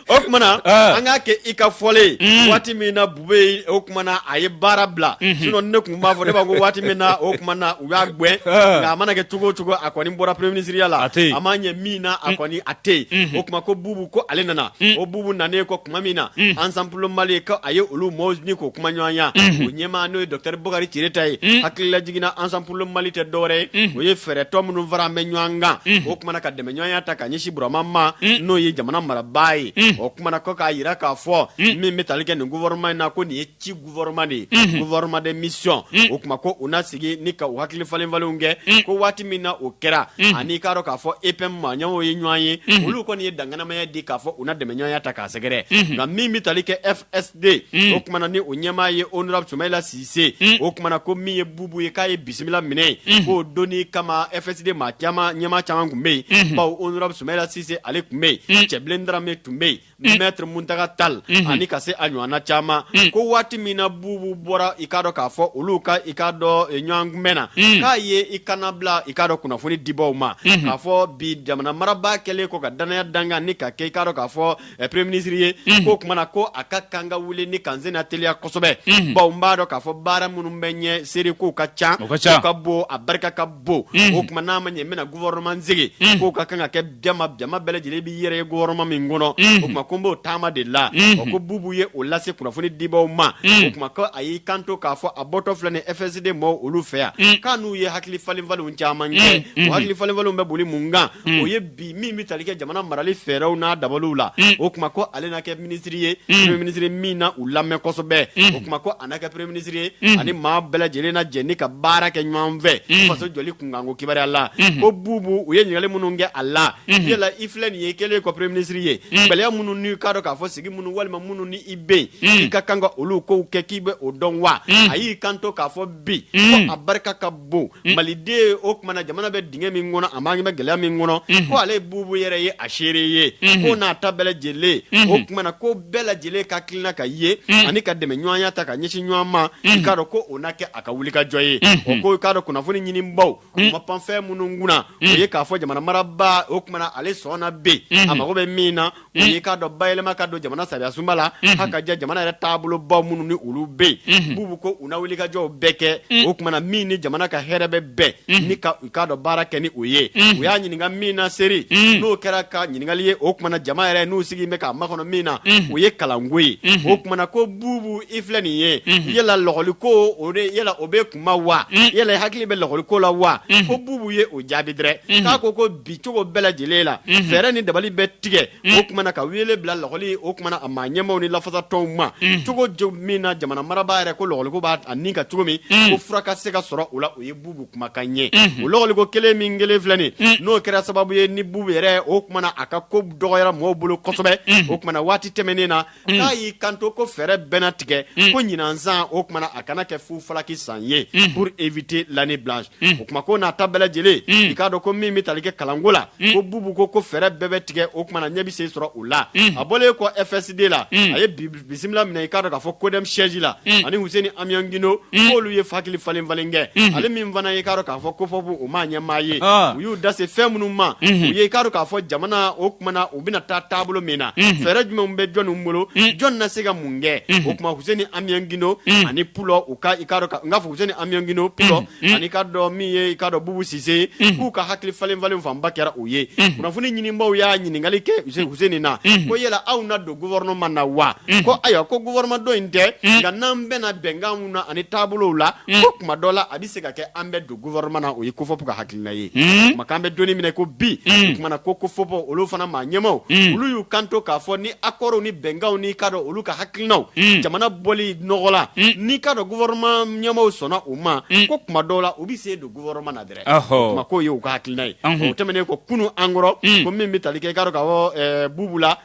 o kumana ah. an k'a kɛ i ka fɔlen mm. waati min na bubɛyi o kumana a ye baara bila mm-hmm. sinon ne tun b'a fɔ ne b'a ko waati min na o tuma na u y'a gɛn ah. nka a mana kɛ cogo o cogo a kɔni bɔra premier minisiriya la a ma ɲɛ min na a mm. kɔni a tɛ yen mm-hmm. o tuma ko bubu ko ale nana mm. o bubu nanen kɔ tuma min na ensemble pour le mali ko a ye olu mɔgɔw ni ko kuma ɲɔgɔnya mm-hmm. o ɲɛmaa n'o ye docteur bokari tereta ye hakilila jigin na ensemble pour le mali tɛ dɔwɛrɛ ye o ye fɛɛrɛ tɔn minnu faralen bɛ ɲɔgɔn kan o kumana ka dɛmɛ ɲɔgɔnya ta ka ɲɛsin burama ma n'o ye jamana marabaa ye o tumana ko k'a jira k'a fɔ min bɛ tali kɛ nin gouvernement in na ko nin ye ci gouvernement de ye gouvernement de mission o tuma ko u na sigi ni ka hakili falenfalenw kɛ ko waati min na o kɛra ani i k'a dɔn k'a fɔ epm maa ɲɔgɔnw ye ɲɔgɔn ye olu kɔni ye danganamaya di k'a fɔ u na dɛmɛɲɔgɔnya ta k'a sɛgɛrɛ nka min bɛ tali kɛ e den mm. o kumana ni o ɲɛmaa ye honorable sumayila sise mm. o kumana ko min ye bubu ye k'a ye bisimila minɛ mm. k'o donni kama fsd maa caman ɲɛmaa caman tun bɛ yen mm-hmm. bawo honorable sumayila sise ale tun bɛ yen cɛbilen darame tun bɛ yen maître muntaka tal mm-hmm. ani ka se a ɲɔgɔnna caman ko waati min na bubu bɔra i k'a dɔn k'a fɔ olu ka i k'a dɔn eh, ɲɔgɔn kunbɛn na k'a ye i kana bila i k'a dɔn kunnafoni dibaaw ma mm-hmm. k'a fɔ bi jamana marabaa kɛlen kɔ ka dannaya da a kan ni k'a kɛ i k'a dɔn k'a fɔ eh, premier ministre ye mm. ko kumana ko a ka kan ka wuli ni k'an senna teliya kosɛbɛ mm. bawo n b'a dɔn k'a fɔ baara minnu bɛ ɲɛ sɛrɛ k'o ka ca o ka bon a barika ka bon mm. o tuma n'a ma ɲɛ n bɛna gouvernement sigi mm. k'o ka kan ka kɛ jama bɛɛ lajɛlen b'i yɛrɛ ye gouvernement min kɔnɔ mm. o tuma ko n b'o taama de la mm. o ko bubu ye o lase kunnafoni dibaaw ma mm. o tuma ko a y'i kanto k'a fɔ a bɔtɔ filɛ nin fsd mɔgɔw olu fɛ yan mm. k'a n'u ye hakili falenfalenw caman kɛ mm. o hakili falenfalenw bɛ boli mun kan mm. o ye bi min bɛ tali kɛ jamana marali fɛɛrɛw n'a dabaliw la o tuma ko ale na kɛ minisiri ye minisiri min na u lamɛn kosɛbɛ o tuma ko a na kɛ premier minisiri ye ani maa bɛɛ lajɛlen na jɛ ni ka baara kɛ ɲɔgɔn fɛ faso jɔli kunkan ko kibaruya la ko bubu u ye ɲininkali minnu kɛ a la yala i filɛ nin ye kɛlen kɔ premier minisiri ye gɛlɛya minnu n'i k'a dɔn k'a fɔ sigi minnu walima minnu ni i bɛ yen i ka kan ka olu ko kɛ k'i bɛ o dɔn wa a y'i kanto k'a fɔ bi a barika ka bon mm. maliden o kumana jamana bɛ dingɛ min kɔnɔ an bɛ gɛlɛya min kɔnɔ mm-hmm. ko ale bubu yɛrɛ ye a seere ye ko mm-hmm. n'a ta bɛɛ lajɛlen o mm-hmm. kumana ko bɛɛ lajɛlen ka tilenla ka ye mm. ani ka dɛmɛ ɲɔgɔnya ta ka ɲɛsin ɲɔgɔn ma mm. i k'a dɔn ko o na kɛ a ka wulikajɔ ye o ko i k'a dɔn kunnafoni ɲinibaaw u ma pan fɛn minnu kunna o ye k'a fɔ jamana marabaa o kumana ale sɔnna bi a mago bɛ min na i k'a dɔn bayɛlɛma ka don jamana sariya sunba la ha ka jɛ jamana yɛrɛ taabolo baw minnu ni olu bɛ yen bubu ko u na wulikajɔw bɛɛ kɛ o kumana min ni jamana ka hɛrɛ bɛ bɛn ni ka i k'a dɔn baara kɛ ni o ye u y'a ɲininka min na sɛrɛ n'o kɛra ka ɲininkali ye o kumana jama yɛrɛ n'u sigi bɛ k'a makɔnɔ min na o ye kalanko ye o kumana ko bubu i filɛ nin ye yala lakɔli ko o yala o bɛ kuma wa yala hakili bɛ lakɔli ko la wa ko bubu ye o jaabi dɛrɛ ko ko bi cogo bɛɛ lajɛlen la fɛɛrɛ ni dabali bɛ tigɛ o kumana ka wele bila lɔkɔli o kumana a maa ɲɛmaw ni lafasa tɔnw ma cogo min na jamana marabaa yɛrɛ ko lɔkɔliko b'a a ni ka cogo min ko fura ka se ka sɔrɔ o la o ye bubu kumakan ɲɛ o lɔkɔliko kelen min kelen filɛ nin n'o kɛra sababu ye ni bubu yɛrɛ o kumana a ka ko dɔgɔyara mɔgɔw bolo kosɛbɛ o kumana waati tɛmɛnen na Mm. k'a y'i kanto ko fɛɛrɛ bɛna tigɛ mm. ko ɲinan san o kumana a kana kɛ fufalaki san ye mm. pour éviter l'année blanche o kuma ko n'a ta bɛɛ lajɛlen i k'a dɔn ko min bɛ tali kɛ kalanko la ko bubu ko fɛɛrɛ bɛɛ bɛ tigɛ o kumana ɲɛ bɛ se sɔrɔ o la a bɔlen kɔ FSD la a ye bisimila minɛ i k'a dɔn k'a fɔ CODEM siège la ani Huseni Amion Gindo k'olu ye hakili falen falen kɛ ale min fana ye i k'a dɔn k'a fɔ COFOP o maa ɲɛmaa ye ah. u y'u da se fɛn minnu ma u ye i k'a dɔn k'a fɔ jamana o kumana u bɛna taa taabolo min na fɛɛrɛ jumɛn bɛ jɔnni bolo jɔn na se ka mun kɛ o kuma Huseni Amion Gindo ani Pulo u ka n k'a fɔ Huseni Amion Gindo Pulo ani k'a dɔn min ye i k'a dɔn bubu sise k'u ka hakili falen falen fanba kɛra o ye kunnafoni ɲinibaw y'a ɲininkali kɛ Huseni na ko yala aw na don gouvernement na wa ko ayiwa ko gouvernement dɔ in tɛ nka n'an bɛnna bɛnkan na ani taabolo la ko kuma dɔ la a bɛ se ka kɛ an bɛ don gouvernement na o ye COFOP ka hakilina ye kuma kan bɛ doni minɛ ko bi kumana ko COFOP olu fana maa ɲɛmaw olu y'u kanto k'a fɔ ni accords ni bɛnkanw n'i k'a dɔn olu ka hakilinaw jamana bɔli nɔgɔ la n'i k'a dɔn gouvernement ɲɛmaw sɔnna o ma ko kuma dɔw la u bɛ sen don gouvernement na dɛrɛ kuma k'o ye u ka hakilina ye o tɛmɛnen kɔ kunun an kɔrɔ ko min bɛ tali kɛ i k'a dɔn k'a fɔ bubu la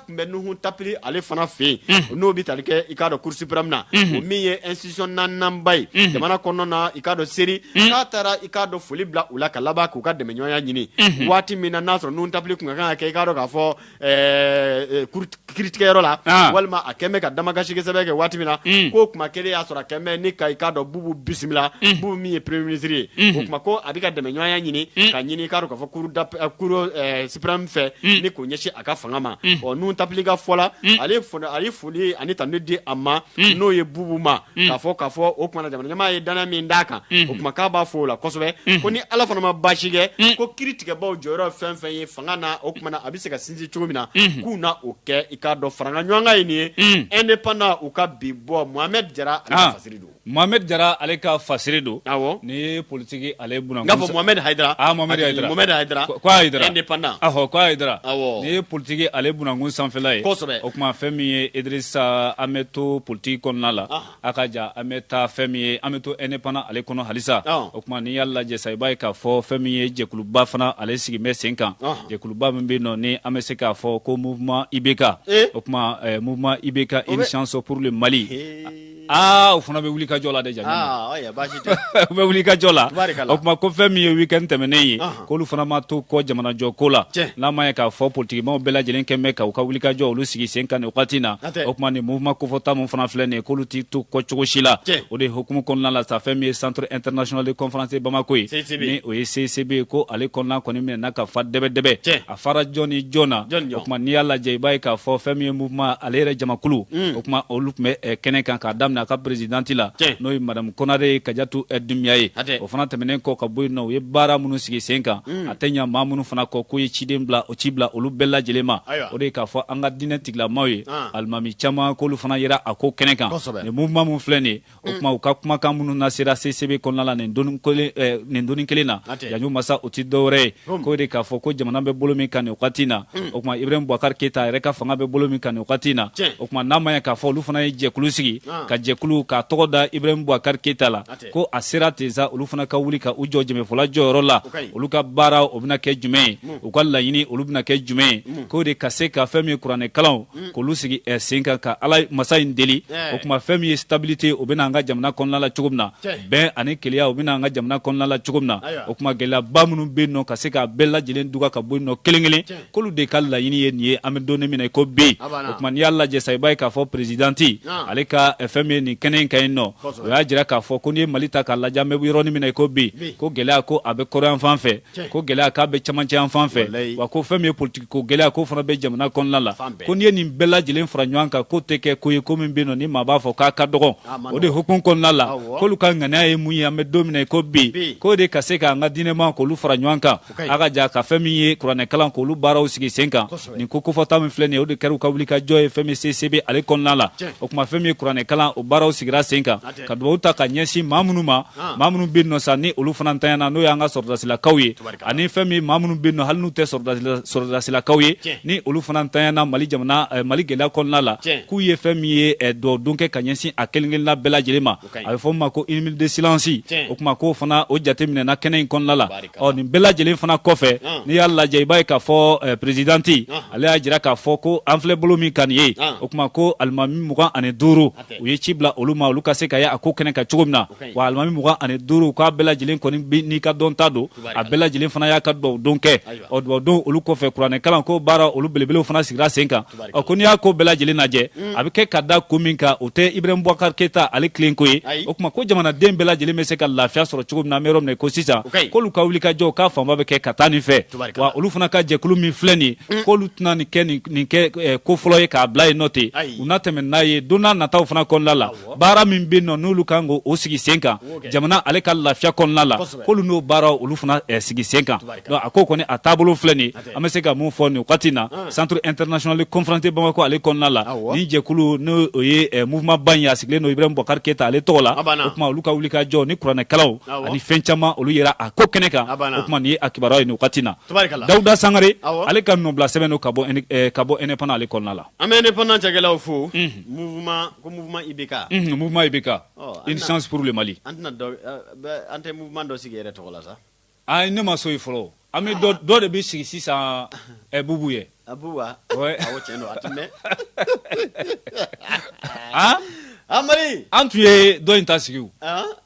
bɛ nuhu tapiri ale fana fɛ yen n'o bɛ tali kɛ i k'a dɔn Cour suprême na o min ye institution naaninanba ye jamana kɔnɔna na i k'a dɔn seri k'a taara i k'a dɔn foli bila u la ka laban k'u ka dɛmɛɲɔgɔnya ɲini waati min na n'a sɔrɔ Nuhu Tapiri tun ka kan ka kɛ i k'a dɔn k'a fɔ kiiritigɛyɔrɔ la walima a kɛlen bɛ ka damakasi sɛbɛn kɛ waati min na k'o kuma kelen y'a sɔrɔ a kɛlen bɛ ni ka i k'a dɔn bubu bisimila bubu min ye premier ministre ye o kuma ko a bɛ ka dɛmɛɲɔgɔnya ɲini ka ɲini i k'a dɔn k'a fɔ fɛ ni k'o ɲɛsin a ka fanga ma Nuhu Tapiri ka fɔ la ale ye foli ani tanu de di a ma n'o ye bubu ma k'a fɔ k'a fɔ o kumana jamana ɲɛmaa ye dannaya min d'a kan o kuma k'a b'a fo o la kosɛbɛ ko ni ala fana ma baasi kɛ ko kiiritigɛbaw jɔyɔrɔ fɛn fɛn ye fanga na o kumana a bɛ se ka sinsin cogo min na k'u na o kɛ i k'a dɔn faraɲɔgɔnkan ye nin ye Indépendant u ka bi bɔ Mohamed Jara ale ka fasiri don Mohamed Jara ale ka fasiri don. Awɔ. Ni ye politique ale buna. N k'a fɔ Mohamed Hayidara. Ah Mohamed Hayidara. Mohamed Hayidara. Ko Hayidara. Indépendant. Ahɔ ko Hayidara. Awɔ. Ni ye politique ale bunankun sanfɛla ye. Kosɛbɛ. O kuma fɛn min ye Idrissa an bɛ to politique kɔnɔna la. Ɔhɔn. A ka ja an bɛ taa fɛn min ye an bɛ to indépendant ale kɔnɔ halisa. Ɔhɔn. O kuma n'i y'a lajɛ sa i b'a ye k'a fɔ fɛn min ye jɛkuluba fana ale sigilen bɛ sen kan. Ɔhɔn. Jɛkuluba min bɛ yen nɔ ni an bɛ se k'a fɔ ko mouvement IBK. Ee! O kuma ɛɛ mouvement IBK une chance pour le Mali. Ee! Aa o fana bɛ wulikajɔ la dɛ ja bɛ wulikajɔ la o tuma ko fɛn min ye weekend tɛmɛnen ye k'olu fana ma to kɔ jamanajɔ ko la n'a ma ye k'a fɔ politikimaaw bɛɛ lajɛlen kɛlen bɛ ka u ka wulikajɔ olu sigi sen kan nin wagati na o tuma nin mouvement kofɔta min fana filɛ nin ye k'olu tɛ to kɔ cogosi la o de hukumu kɔnɔna la sa fɛn min ye centre international de conférence de Bamako ye n'o ye CCB ye ko ale kɔnɔna kɔni minɛna ka fa dɛbɛdɛbɛ fara jɔn ni jɔn na o tuma n'i y'a lajɛ i b'a ye k'a fɔ fɛn min ye mouvement ale yɛrɛ jamakulu o tuma olu tun bɛ eh, kɛnɛ kan k'a daminɛ a ka présidente la n'o ye madame Konare Kajatu eh, Dumbiya ye o fana tɛmɛnen kɔ ka bɔ yen nɔ u ye baara minnu sigi sen kan a tɛ ɲa maa minnu fana kɔ k'u ye ciden bila o ci bila olu bɛɛ lajɛlen ma o de ye k'a fɔ an ka diinɛ tigilamaw ye Ah. alimami caman k'olu fana yera a ko kɛnɛ kan nin mouvement min filɛ nin ye o tuma u ka kumakan minnu na sera CCB kɔnɔna la nin donnin kelen eh, nin donnin kelen na Yaɲu Masa o tɛ dɔwɛrɛ ye k'o de k'a fɔ ko jamana bɛ bolo min kan nin wagati in na o tuma Ibrahim Boubacar Keita yɛrɛ ka fanga bɛ bolo min kan nin wagati in na o tuma n'a ma ɲɛ k'a fɔ olu fana ye jɛkulu sigi ah. ka jɛkulu k'a tɔgɔ da Ibrahim Boubacar Keita la ko a sera ten sa olu fana ka wuli ka u jɔ jɛmɛfɔla jɔyɔrɔ la olu ka baara o bɛna kɛ jumɛn ye u ka laɲini olu bɛna kɛ jumɛn ye k'o de ka se ka fɛn min ye kuranɛkalanw mm. k'olu sigi eh, sen kan ka ala masa in deli eh. o tuma fɛn min ye stabilité o bɛna an ka jamana kɔnɔna la cogo min na bɛn ani kelenya o bɛna an ka jamana kɔnɔna la cogo min na o tuma gɛlɛyaba minnu bɛ yen nɔ ka se k'a bɛɛ lajɛlen duga ka bɔ yen nɔ kelen kelen k'olu de ka laɲini ye nin ye an bɛ donnin min na i ko bi o tuma n'i y'a lajɛ sa i b'a ye k'a fɔ perezidanti ah. ale ka eh, fɛn min ye nin kɛnɛ in kan yen nɔ o y'a jira k'a fɔ ko n'i ye Mali ta k'a lajɛ an bɛ yɔrɔnin min na i ko bi ko gɛlɛya ko a bɛ kɔrɔn yanfan fɛ ko gɛlɛya k'a bɛ camancɛ yanfan fɛ wa ko fɛn min ye politikiko gɛlɛya k'o fana bɛ jamana kɔnɔna la ko n'i ye nin bɛɛ lajɛlen fara ɲɔgɔn kan k'o tɛ kɛ ko ye ko min bɛ yen nɔ ni maa b'a fɔ k'a ka dɔgɔn o de hukumu kɔnɔna la k'olu ka ŋaniya ye mun ye an bɛ don min na i ko bi k'o de ka se k'an ka diinɛmaaw k'olu fara ɲɔgɔn kan a ka ja ka fɛn min ye kuranɛkalan k'olu baaraw sigi sen kan nin ko kofɔta min filɛ nin ye o de kɛra u ka wulikajɔ ye fɛn min ye CCB ale kɔnɔna la o tuma fɛn min ye kuranɛkalan o baaraw sigira sen kan ka dugawu ta ka ɲɛsin maa minnu ma ah. maa minnu bɛ yen nɔ sa ni olu fana ntanyana n'o y'an ka sɔrɔdasilakaw ye ani fɛn min ye maa minnu bɛ yen nɔ hali n'u tɛ sɔrɔdasilakaw ye ni olu fana ntanyana Mali jamana eh, Mali gɛlɛya kɔnɔna la k'u ye fɛn min ye eh, dugawu don kɛ ka ɲɛsin a kelen kelenna bɛɛ lajɛlen ma a bɛ fɔ min ma ko une minute de silence o tuma k'o fana o jate minɛna kɛnɛ in kɔnɔna la ɔ nin bɛɛ lajɛlen fana kɔfɛ ah. n'i y'a lajɛ i b'a ye k'a fɔ eh, perezidanti ah. ale y'a jira k'a fɔ ko an filɛ bolo min kan nin ye o tuma ko alimami mugan ani duuru u ye ci bila olu ma olu ka se ka ye a ko kɛnɛ kan cogo min na wa alimami mugan ani duuru k'a bɛɛ lajɛlen kɔni n'i ka dɔnta don a bɛɛ lajɛlen fana y'a ka dubaw don kɛ ɔ dubaw don olu kɔfɛ kuranɛ kalan ko baara olu belebelew fana sigira sen kan ɔ ko n'i y'a ko bɛɛ lajɛlen lajɛ mm. a bɛ kɛ ka da ko min kan o tɛ ibrahim bubakar keyita ale kelen ko ye o tuma ko jamanaden bɛɛ lajɛlen bɛ se ka lafiya sɔrɔ cogo min na an bɛ yɔrɔ min na i ko sisan k'olu ka wulikajɔw k'a fanba bɛ kɛ ka taa nin fɛ wa olu fana ka jɛkulu min filɛ nin ye mm. k'olu tɛna nin kɛ nin kɛ eh, ko fɔlɔ ye k'a bila yen nɔ ten u na tɛmɛ n'a ye don nataw fana kɔnɔna la baara min bɛ yen nɔ n'olu kan k'o o sigi sen kan jamana ale ka lafiya kɔnɔna la k'olu n'o baaraw olu fana eh, sigi sen kan a ko kɔni a taabolo filɛ nin ye an bɛ se ka mun fɔ nin wagati in na ah. centre international conférence bamakɔ ale kɔnɔna la nin jɛkulu n'o o ye eh, mouvement ba in ye a sigilen don ibrahim boubacar keyita ale tɔgɔ la o tuma olu ka wulikajɔ ni kuranɛkalaw ani fɛn caman olu yera a ko kɛnɛ kan o tuma nin ye a kibaruya ye nin wagati in na dawuda sangare ale ka nɔbila sɛbɛn don ka bɔ eh, ka bɔ indépendant ale kɔnɔna la an bɛ indépendant cakɛlaw fo mhm. mouvement ko mouvement IBK mhm, mouvement IBK une chance pour le mali an tɛna dɔ eh, an tɛ mouvement dɔ sigi yɛrɛ tɔgɔ la sa ayi ne ma so ye fɔlɔ an bɛ dɔ dɔ de bɛ sigi sisan eh, bubu ye bubu wa awo tiɲɛ don a tun bɛ an mari an tun ye dɔ in ta sigi o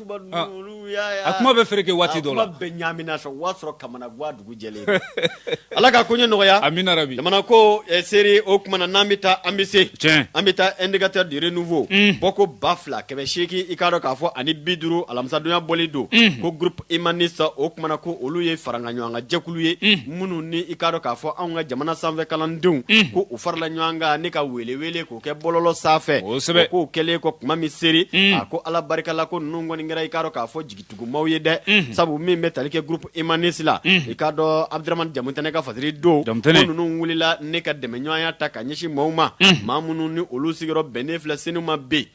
A kuma bɛ fereke waati dɔ bɛ ɲamina sɔrɔ o y'a sɔrɔ ka ga dugu jɛ ala ka koɲɛ nɔgɔya a bɛ jamana ko seri o tuma na n'an bɛ taa an bɛ se an bɛ taa indicateur de renouveau bɔko ba fila kɛmɛ seegin i k'a dɔn k'a fɔ ani bi duuru alamisadon ya bɔli don ko groupe humaniste o tuma na ko olu ye faraɲɔgɔnkan jɛkulu ye minnu ni i k'a dɔn k'a fɔ an ka jamana sanfɛ kalandenw ko u farala ɲɔgɔn kan ne ka wele O kɛ bɔlɔlɔ sanfɛ k'o kɛlen kɔ kuma min seri a ko ala barika la ko ninnu kɔni kɛra i k'a dɔn k'a fɔ jigitugumaw ye dɛ sabu min bɛ tali kɛ groupe humaniste la i k'a dɔn abdramane jamutɛnɛ ka fasiri don ko ninnu wulila ne ka dɛmɛɲɔgɔnya ta ka ɲɛsin maaw ma maa minnu ni olu sigiyɔrɔ bɛnnen filɛ senu ma bi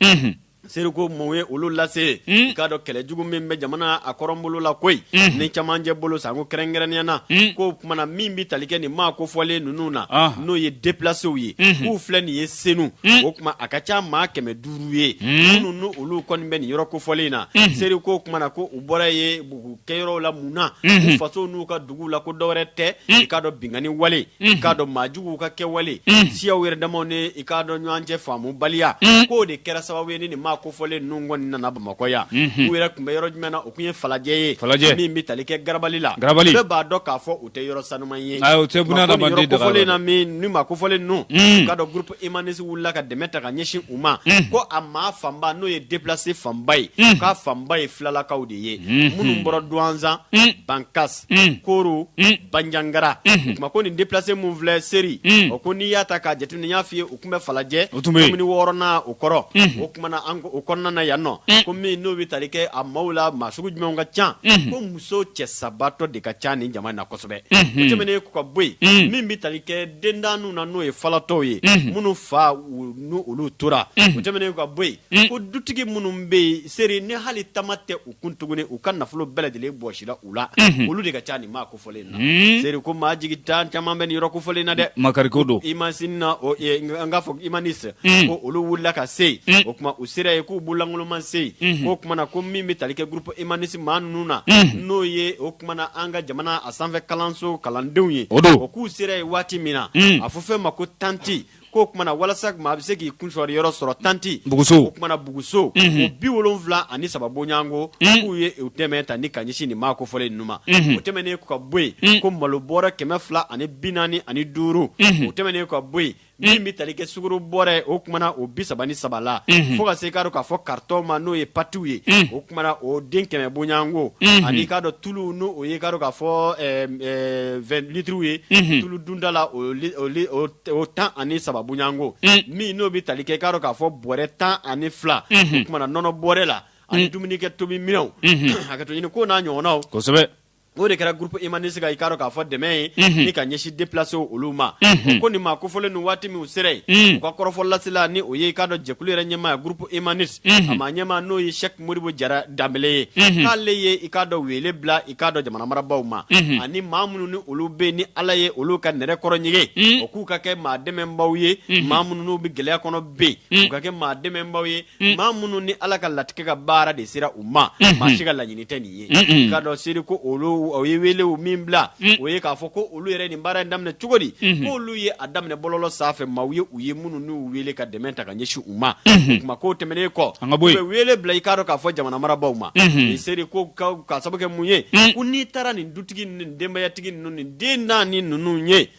Seri ko mun ye olu lase i k'a dɔn kɛlɛ jugu min bɛ jamana a kɔrɔnbolo la koyi ni camancɛ bolo sanko kɛrɛnkɛrɛnniya na k'o tuma na min bɛ tali kɛ nin maa kofɔlen ninnu na n'o ye déplacéw ye k'u filɛ nin ye senu o tuma a ka ca maa kɛmɛ duuru ye minnu n'olu kɔni bɛ nin yɔrɔ kofɔlen in na seri ko tuma na ko u bɔra ye bugu kɛyɔrɔ la mun na u faso n'u ka dugu la ko dɔwɛrɛ tɛ i k'a dɔn binkanni wale i k'a dɔn maa juguw ka kɛwale siyaw yɛrɛ damaw ni i k'a dɔn ɲɔgɔn cɛ faamu baliya k'o de kɛra sababu ye ni nin maa kofɔlen ninnu kɔni nana Bamakɔ yan u yɛrɛ tun bɛ yɔrɔ jumɛn na o tun ye falajɛ ye falajɛ min bɛ tali kɛ garabali la garabali bɛɛ b'a dɔn k'a fɔ o tɛ yɔrɔ sanuman ye ayi o tɛ buna adamaden daga kofɔlen na min ni maa kofɔlen ninnu i k'a dɔn groupe humaniste wulila ka dɛmɛ ta ka ɲɛsin u ma ko a maa fanba n'o ye déplacé fanba ye k'a fanba ye filalakaw de ye minnu bɔra Douentza Bankas koro banjagara o tuma ko nin déplacé min filɛ seri o ko n'i y'a ta k'a jateminɛ y'a f'i ye u tun bɛ falajɛ commune wɔɔrɔnan o kɔrɔ o tuma na o kɔnɔna na yan nɔ ko min n'o bɛ tali kɛ a maaw la maa sugu jumɛn ka ca ko muso cɛ sabatɔ de ka ca nin jama in na kosɛbɛ tɛmɛnen kɔ ka bɔ yen min bɛ tali kɛ dendaninw na n'o ye falatɔw ye minnu fa n'olu tora tɛmɛnen ka bɔ yen Mm. Ko dutigi minnu bɛ yen Seri ni hali tama tɛ u kun tuguni u ka nafolo bɛɛ lajɛlen bɔsira u la mm-hmm. olu de ka ca nin maa kofɔlen na mm. Seri ko maa jigitan caman bɛ nin yɔrɔ kofɔlen na dɛ makariko don imasin na an k'a fɔ humaniste mm. ko olu wulila ka se yen o tuma u sera yen k'u bololankolon ma se yen mm-hmm. k'o tuma na ko min bɛ tali kɛ groupe humaniste maa ninnu na mm-hmm. n'o ye o tuma na an ka jamana a sanfɛ kalanso kalandenw ye o k'u sera yen waati min na a fɔ fɛn ma ko tanti k'o tuma na walasa maa bɛ se k'i kun sɔrɔ yɔrɔ sɔrɔ tanti buguso o tuma na buguso o bi wolonwula ani saba bɔɲɔgɔnko k'u ye u dɛmɛ ta ni ka ɲɛsin nin maa kofɔlen ninnu ma o tɛmɛnen kɔ ka bɔ yen ko malo bɔrɛ kɛmɛ fila ani bi naani ani duuru o tɛmɛnen kɔ ka bɔ yen min bɛ tali kɛ sukaro bɔrɛ o tuma na o bi saba ni saba la fo ka se k'a dɔn k'a fɔ karitɔnw ma n'o ye patiw ye o tuma na o den kɛmɛ bɔɲɔgɔnko ani k'a dɔn tulu n'o o ye k'a dɔn k'a fɔ vingt litres ye tulu dunden na o o tan ani saba bɔɲɔgɔnko min n'o bɛ tali kɛ i k'a dɔn k'a fɔ bɔrɛ tan ani fila o tuma na nɔnɔ bɔrɛ la ani dumunikɛ tobi minɛnw hakɛto ɲini ko n'a ɲɔgɔnnaw kosɛbɛ o de kɛra groupe humaniste ka i k'a dɔn k'a fɔ dɛmɛ ye ni ka ɲɛsin déplacé olu ma ko nin maa kofɔlen nin waati min u sera yen u ka kɔrɔfɔ lasela ni o ye i k'a dɔn jɛkulu yɛrɛ ɲɛmaa groupe humaniste a ma ɲɛmaa n'o ye Modibo Jara Danbele ye k'ale ye i k'a dɔn wele bila i k'a dɔn jamana marabagaw ma ani maa minnu ni olu bɛ ni ala ye olu ka nɛrɛ kɔrɔ ɲigin o k'u ka kɛ maa dɛmɛbaaw ye maa minnu n'u bɛ gɛlɛya kɔnɔ bi u ka kɛ maa dɛmɛbaaw ye maa minnu ni ala ka latigɛ ka baara de sera u ma maa si ka laɲini tɛ nin ye k'a dɔn Seri ko olu o ye wele min bila o ye k'a fɔ ko olu yɛrɛ nin baara in daminɛ cogo di ko olu ye a daminɛ bɔlɔlɔ sanfɛ maaw ye u ye minnu n'u wele ka dɛmɛ ta ka ɲɛsin u ma o kuma k'o tɛmɛnen kɔ u bɛ wele bila i k'a dɔn k'a fɔ jamana marabagaw ma nin Seri ko ka sababu kɛ mun ye ko n'i taara nin dutigi nin denbayatigi ninnu nin den naani ni ninnu ye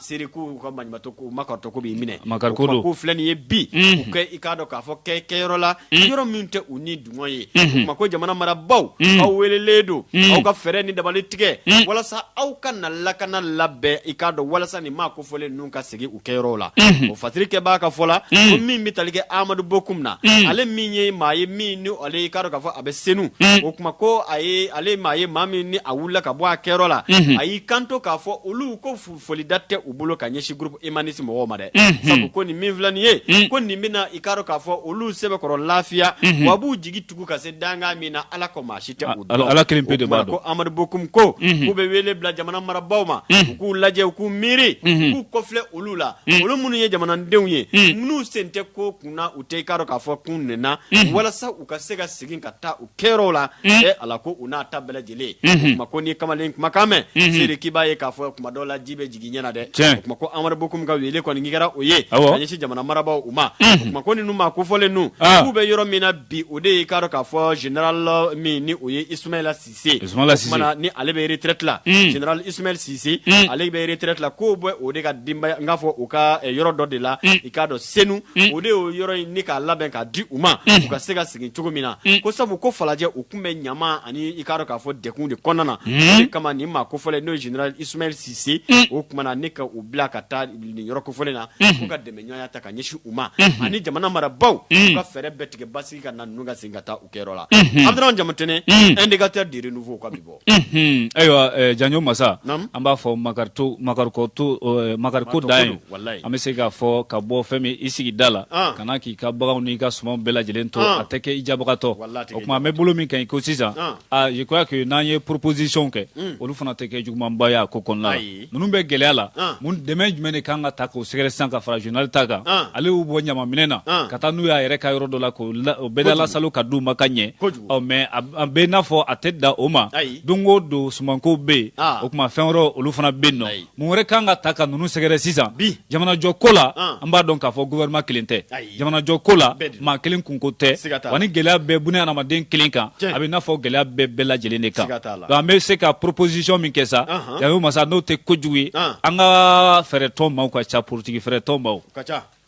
Seri k'u ka maɲumatɔ k'u makaritɔ k'u b'i minɛ, makari ko don, o tuma k'u filɛ nin ye bi, unhun, k'u i k'a dɔn k'a fɔ kɛ kɛyɔrɔ la, unhun, yɔrɔ min tɛ u ni dungɔ ye, unhun, o tuma ko jamana marabaaw, unhun, aw weelelen don, unhun, aw ka fɛɛrɛ ni dabali tigɛ, unhun, walasa aw ka na lakana labɛn i k'a dɔn walasa nin maa kofɔlen ninnu ka segin u kɛyɔrɔw la, unhun, o fasiri kɛbaa ka fɔ la, unhun, ko min bɛ tali kɛ Amadu Bokum na, unhun, ale min ye maa ye min ni ale i k'a dɔn k'a fɔ a bɛ Senu, unhun, o tuma ko a ye ale ye maa ye maa min ni a wulila ka bɔ a kɛyɔrɔ la, unhun, a y'i kanto k'a fɔ olu ko foli da tɛ u bolo ka ɲɛsin groupe humaniste mɔgɔw ma dɛ unhun sabu ko nin min filɛ nin ye un ko nin bɛna i k'a dɔn k'a fɔ olu sɛbɛkɔrɔ lafiya unhun w'a b'u jigi tugu ka se dankan min na Ala kɔ maa si tɛ o dɔn Ala Ala kelen pe de b'a dɔn o tuma ko Amadu Bokum ko unhun k'u bɛ wele bila jamana marabaaw ma unhun u k'u lajɛ u k'u miiri unhun k'u kɔfilɛ olu la un olu minnu ye jamanadenw ye un minnu sen tɛ ko kun na u tɛ i k'a dɔn k'a fɔ k'u nɛna unhun walasa u ka se ka segin ka taa u kɛyɔrɔw la ɛ ala ko u n'a ta bɛɛ lajɛlen o tuma ko n'i kamalen kumakan mɛn seere k'i b'a ye k'a fɔ kuma dɔw la ji bɛ jigin ɲɛ na dɛ Tiɲɛ. o tuma ko amadu bokum ka wele kɔni k'i kɛra o ye ka Awɔ. ɲɛsin jamana marabaaw u ma o tuma ko ninnu maa kofɔlen ninnu Ah. k'u bɛ yɔrɔ min na bi o de y'i k'a dɔn k'a fɔ general min ni o ye ismaila sise Ismaila Cisse. O tuma na ni ale bɛ retraite la Mm. general ismail sise Mm. ale bɛ retraite la k'o bɛ o de ka denbaya n k'a fɔ u ka eh, yɔrɔ dɔ de la i k'a dɔn senu o de y'o yɔrɔ in ni k'a labɛn k'a di u ma u ka se ka sigi cogo min na ko sabu ko falajɛ u tun bɛ ɲama ani i k'a dɔn k'a fɔ degun de kɔnɔna na o de kama nin maa kofɔlen n'o ye general ismail sise o tuma na ne ka u bila ka taa nin yɔrɔ kofɔlen na u ka dɛmɛɲɔgɔnya ta ka ɲɛsin u ma ani jamana marabagaw ka fɛɛrɛ bɛɛ tigɛ basigi ka na ninnu ka segin ka taa u kɛyɔrɔ la abdramane jamatɛnɛn indicateur du renouveau ka bi bɔ Unhun ayiwa ɛɛ janjo masa naamu an b'a fɔ Makarito Makariko to ɛɛ Makariko dan ye walahi an bɛ se k'a fɔ ka bɔ fɛn min i sigi da la an ka na k'i ka baganw n'i ka sumanw bɛɛ lajɛlen to an a tɛ kɛ i jabagatɔ walahi a tɛ kɛ i jabagatɔ o tuma an bɛ bolo min kan i ko sisan an aa je crois que n'an ye proposition kɛ un olu fana tɛ kɛ jugumanba ye a ko kɔnɔna na ayi ninnu bɛ gɛlɛya la mun dɛmɛ jumɛn de kan ka taa k'o sɛgɛrɛ sisan ka fara general ta kan ale y'u bɔ ɲamaminɛ na ka taa n'u y'a yɛrɛ ka yɔrɔ dɔ la k'o bɛda lasalo ka d'u ma ka ɲɛ ɔ mais a bɛ n'a fɔ a tɛ dan o ma don o don sumankow bɛ yen o tuma fɛn wɛrɛw olu fana bɛ yen nɔ mun wɛrɛ kan ka taa ka ninnu sɛgɛrɛ sisan jamanajɔ ko la an b'a dɔn k'a fɔ gouvernement kelen tɛ jamanajɔ ko la maa kelen kunko tɛ wa ni gɛlɛya bɛɛ bunna adamaden kelen kan a bɛ n'a fɔ gɛlɛya bɛɛ bɛɛ lajɛlen de kan donc an bɛ se ka proposition min kɛ sa janjo masa n'o tɛ kojugu ye an ka fɛɛrɛtɔn maaw ka ca politiki fɛɛrɛtɔn maaw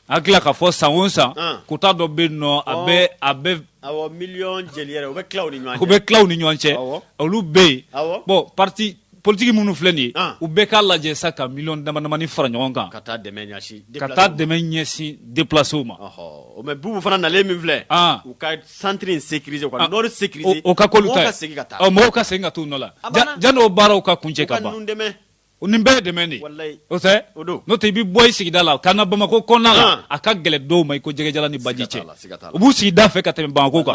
an tila k'a fɔ san o san quota dɔ bɛ yen nɔ a bɛ a bɛ awɔ miliyɔn jeli yɛrɛ u bɛ tila u ni ɲɔgɔn cɛ u bɛ tila u ni ɲɔgɔn cɛ olu bɛ yen bon parti politiki minnu filɛ nin ye ah. u bɛɛ k'a lajɛ sa ka miliyɔn damadamani fara ɲɔgɔn kan ka taa dɛmɛ ɲɛsin ka taa dɛmɛ ɲɛsin deplacew ma mais bubu fana nalen min filɛ ah. u ka centre in sécuriser ka ah. nord sécuriser o ka k'olu ta ye mɔgɔw ka segin ka t'u nɔ la janni o baaraw ka kuncɛ ka ban nin bɛɛ ye dɛmɛ de ye o tɛ n'o tɛ i bɛ bɔ i sigida la ka na bamakɔ kɔnɔna la a ka gɛlɛn dɔw ma i ko jɛgɛ jalan ni baji cɛ u b'u sigida fɛ ka tɛmɛ bamakɔ kan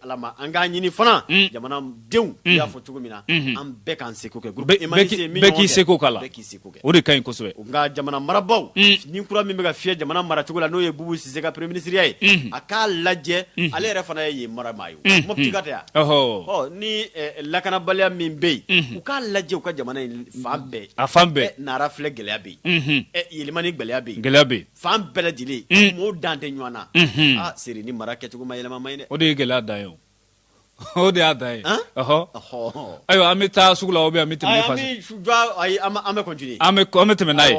Ala ma an k'a ɲini fana jamana denw i y'a fɔ cogo min na an bɛɛ k'an seko kɛ k'i seko k'a la k'i seko kɛ o de ka ɲi kosɛbɛ nka jamana marabagaw ni kura min bɛ ka fiyɛ jamana mara cogo la n'o ye bubu sise ka premier ministriya ye a k'a lajɛ ale yɛrɛ fana ye yen maramaa ye mopti ka taa yan ni lakanabaliya min bɛ yen u k'a lajɛ u ka jamana fan bɛɛ a fan bɛɛ nara filɛ gɛlɛya bɛ yen ɛ yɛlɛmani gɛlɛya bɛ gɛlɛya bɛ yen Fan bɛɛ lajɛlen mɔgɔw dan tɛ ɲɔgɔn na se ni mara kɛcogo ma yɛlɛma ye o de ye gɛlɛya dan ye o de y'a dan ye ɔ ayiwa an bɛ taa sugu la an bɛ an bɛ tɛmɛ n'a ye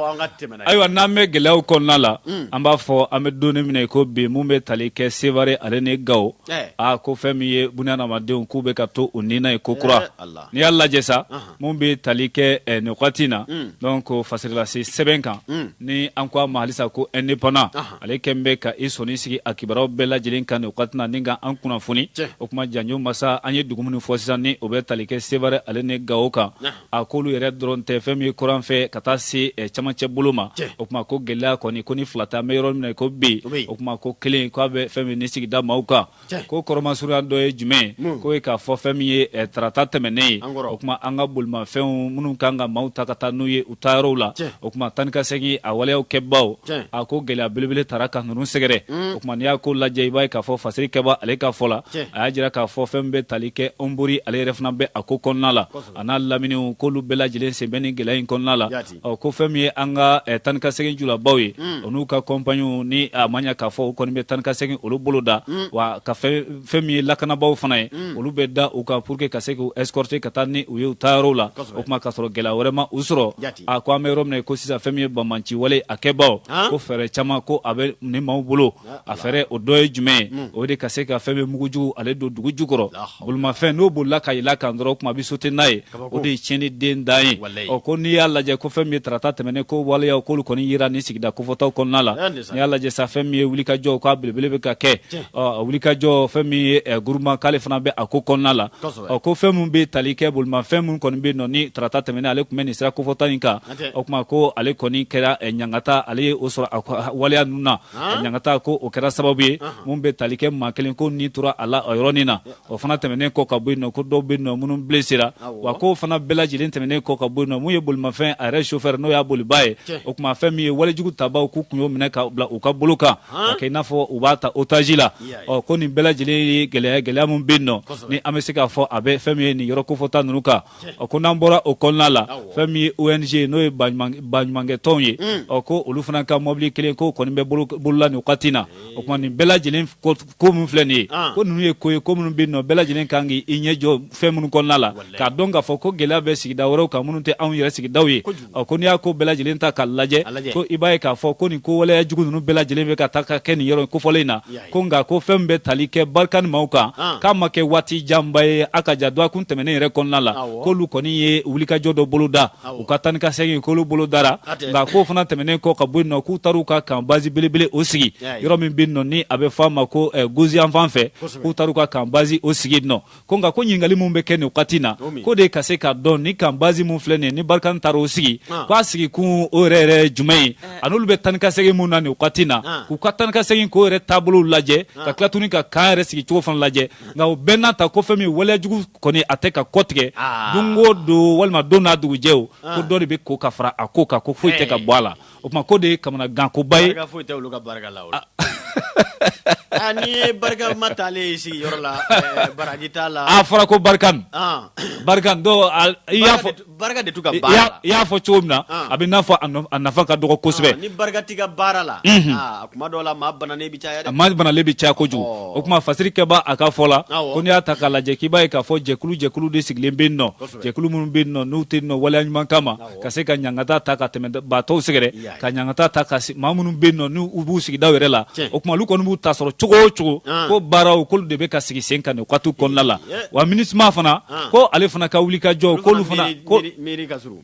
ayiwa n'an bɛ gɛlɛya kɔnɔna la an b'a fɔ an bɛ don min na i ko bi min bɛ tali kɛ Sevare ale ni Gawo a ko fɛn min ye bunadamadenw k'u bɛ ka to u ni na ye kokura n'i y'a lajɛ sa min bɛ tali kɛ eh, nin wagati in na mm. donc fasirilase sɛbɛn kan mm. ni an ko a ma halisa ko Indépendant ale kɛlen bɛ ka i sɔnni sigi a kibaruyaw bɛɛ lajɛlen kan nin wagati na ni ka an kunnafoni o kuma Janjo Masa an ye dugu minnu fɔ sisan ni o bɛ tali kɛ Sevare ale ni Gawo kan a k'olu yɛrɛ dɔrɔn tɛ fɛn min ye kɔrɔn fɛ ka taa se eh, camancɛ bolo ma o kuma ko gɛlɛya kɔni ko ni fila tɛ an bɛ yɔrɔ min na ko bi o kuma ko kelen k'a bɛ fɛn min ni sigida maaw kan ko kɔrɔmasurunya dɔ ye jumɛn ye hmm. k'o ye k'a fɔ fɛn min ye eh, tarata tɛmɛnen ye o kuma an ka bolimafɛnw minnu kan ka maaw ta ka taa n'u ye u taa yɔrɔw la o kuma taa ni ka segin a waleyaw kɛbaaw a ko gɛlɛya belebele taara ka ninnu sɛgɛrɛ hmm. o kuma n'i y'a ko lajɛ i b'a ye k'a fɔ fasiri kɛbaa ale ka fɔ la a y'a jira k'a fɔ fɛn min bɛ tali kɛ Ɔnbori ale yɛrɛ fana bɛ a ko kɔnɔna la a n'a laminiw k'olu bɛɛ lajɛlen sen bɛ nin gɛlɛya in kɔnɔna la ɔ ko fɛn min ye an ka eh, taa ni ka segin julabaw ye o n'u ka kɔnpaniw ni a ma ɲa k'a fɔ u kɔni bɛ taa ni ka segin olu boloda wa ka fɛn fɛn min ye lakanabaaw fana ye olu bɛ da u kan pour que ka se k'u escorter ka taa ni u ye u taa yɔrɔw la o kuma k'a sɔrɔ gɛlɛya wɛrɛ ma u sɔrɔ Jati. a ko an bɛ yɔrɔ min na ko sisan fɛn min ye banbaanci wale a kɛbaaw An. ko fɛɛrɛ caman ko a bɛ nin maaw bolo a fɛɛrɛ o dɔ ye jumɛn ye hmm. o de ka se ka fɛn bɛ mugujugu ale don dugu jukɔrɔ bolimafɛn n'o bolila ka yɛlɛ kan dɔrɔn o kuma a bɛ sauter n'a ye o de ye tiɲɛni den dan ye ɔ ko n'i y'a lajɛ ko fɛn min ye tarata tɛmɛnen ko waleyaw k'olu kɔni yera nin sigida kofɔtaw kɔnɔna la n'i y'a lajɛ sa fɛn min ye wulikajɔ k'a belebele bɛ ka kɛ ɔ wulikajɔ fɛn min ye eh, Guruma k'ale fana bɛ a ko kɔnɔna la ɔ ko fɛn min bɛ tali kɛ bolimafɛn min kɔni bɛ yen nɔ ni tarata tɛmɛnen ale tun bɛ nin sira kofɔta in kan o kuma ko ale kɔni kɛra eh, ɲangata ale ye o sɔrɔ a waleya ninnu na a ɲangata ko o kɛra sababu ye mun bɛ tali kɛ maa kelen k'o ni tora a la o yɔrɔnin na o fana tɛmɛnen kɔ ka bɔ yen nɔ ko dɔw bɛ yen nɔ minnu blessera wa k'o fana bɛɛ lajɛlen tɛmɛnen kɔ ka bɔ yen nɔ mun ye bolimafɛn a yɛrɛ chauffeur n'o y'a bolibaa ye o kuma fɛn min ye walejugu tabaaw k'u kun y'o minɛ ka bila u ka bolo kan ka kɛ i n'a fɔ u b'a ta otage la ɔ ko nin bɛɛ lajɛlen ye eh, gɛlɛya min bɛ yen nɔ ni an bɛ se k'a fɔ a bɛ fɛn min ye nin yɔrɔ kofɔta ninnu kan ɔ ko n'an bɔra o kɔnɔna la fɛn min ye ONG n'o ye baɲumankɛtɔnw ye mm. ɔ ko olu fana ka mɔbili kelen k'o kɔni bɛ bolola nin wagati na o kuma nin bɛɛ lajɛlen ko min filɛ nin ye ah. ko ninnu ye ko ye ko minnu bɛ yen nɔ bɛɛ lajɛlen kan k'i ɲɛ jɔ fɛn minnu kɔnɔna la k'a dɔn k'a fɔ ko gɛlɛya bɛ sigida wɛrɛw kan minnu tɛ anw yɛrɛ sigidaw ye ɔ ko n'i y'a ko bɛɛ lajɛlen ta k'a lajɛ ko i b'a ye k'a fɔ ko nin ko waleya jugu ninnu bɛɛ lajɛlen bɛ ka taa ka kɛ nin yɔrɔ kofɔlen in na ko nka ko fɛn min bɛ tali kɛ barikani maaw kan ah. k'a ma kɛ waati janba ye a ka ja dɔgɔkun tɛmɛnen yɛrɛ kɔnɔna la k'olu kɔni ye wulikajɔ dɔ bolo da u ka taa ni ka segin k'olu bolo dara nka k'o fana tɛmɛnen kɔ ka bɔ yen nɔ k'u taar'u ka kan bazi belebele o sigi yɔrɔ min bɛ yen nɔ ni a bɛ fɔ a ma ko eh, gosi yanfan fɛ k'u taar'u ka kan bazi o sigi yen nɔ ko nka ko ɲininkali min bɛ kɛ nin wagati na ko de ka se k'a dɔn ni kan bazi min filɛ nin ni barikani taara o sigi ah. ko a sigi kun o yɛrɛ yɛrɛ jumɛn ye eh. ani olu bɛ taa ni ka segin mun na nin wagati na ah. k'u ka taa ni ka segin k'o yɛrɛ taabolo lajɛ ah. ka tila tuguni ka kan yɛrɛ sigi cogo fana lajɛ nka o bɛɛ n'a ta ko fɛn min waleya jugu kɔni a tɛ ka kɔtigɛ don o don walima don n'a dugujɛ o ko dɔ de bɛ ko ka fara a ko kan ko foyi tɛ ka bɔ a la o tuma ko de ye kamanagankoba ye barika foyi tɛ olu ka barika la o la ah, n'i ye barika ma taalen ye sigi yɔrɔ la eh, baraji t'a la a fɔra ko barikani ah. barikani dɔ i y'a fɔ barika de t'u ka baara la i y'a fɔ cogo min na ah. a bɛ n'a fɔ a nafa ka dɔgɔ kosɛbɛ ni barika t'i ka baara la mhm. a kuma dɔw la maa banalen bɛ caya dɛ maa banalen bɛ caya kojugu oh. o tuma fasirikɛba a ka fɔ la ko n'i y'a ta k'a lajɛ k'i b'a ye k'a fɔ jɛkulu jɛkulu de sigilen bɛ yen nɔ jɛkulu minnu bɛ yen nɔ n'u tɛ yen nɔ waleya ɲuman kama ka se ka ɲangata ta ka tɛmɛbaatɔw sɛgɛrɛ ka ɲangata ta ka maa minnu bɛ yen nɔ n'u b'u sigidaw yɛrɛ la o tuma olu kɔni b'u ta sɔrɔ cogo o cogo ko baaraw k'olu de bɛ ka sigi sen kan nin waati kɔnɔna la wa minusma fana ko ale fana ka wuli ka jɔ k'olu fana ko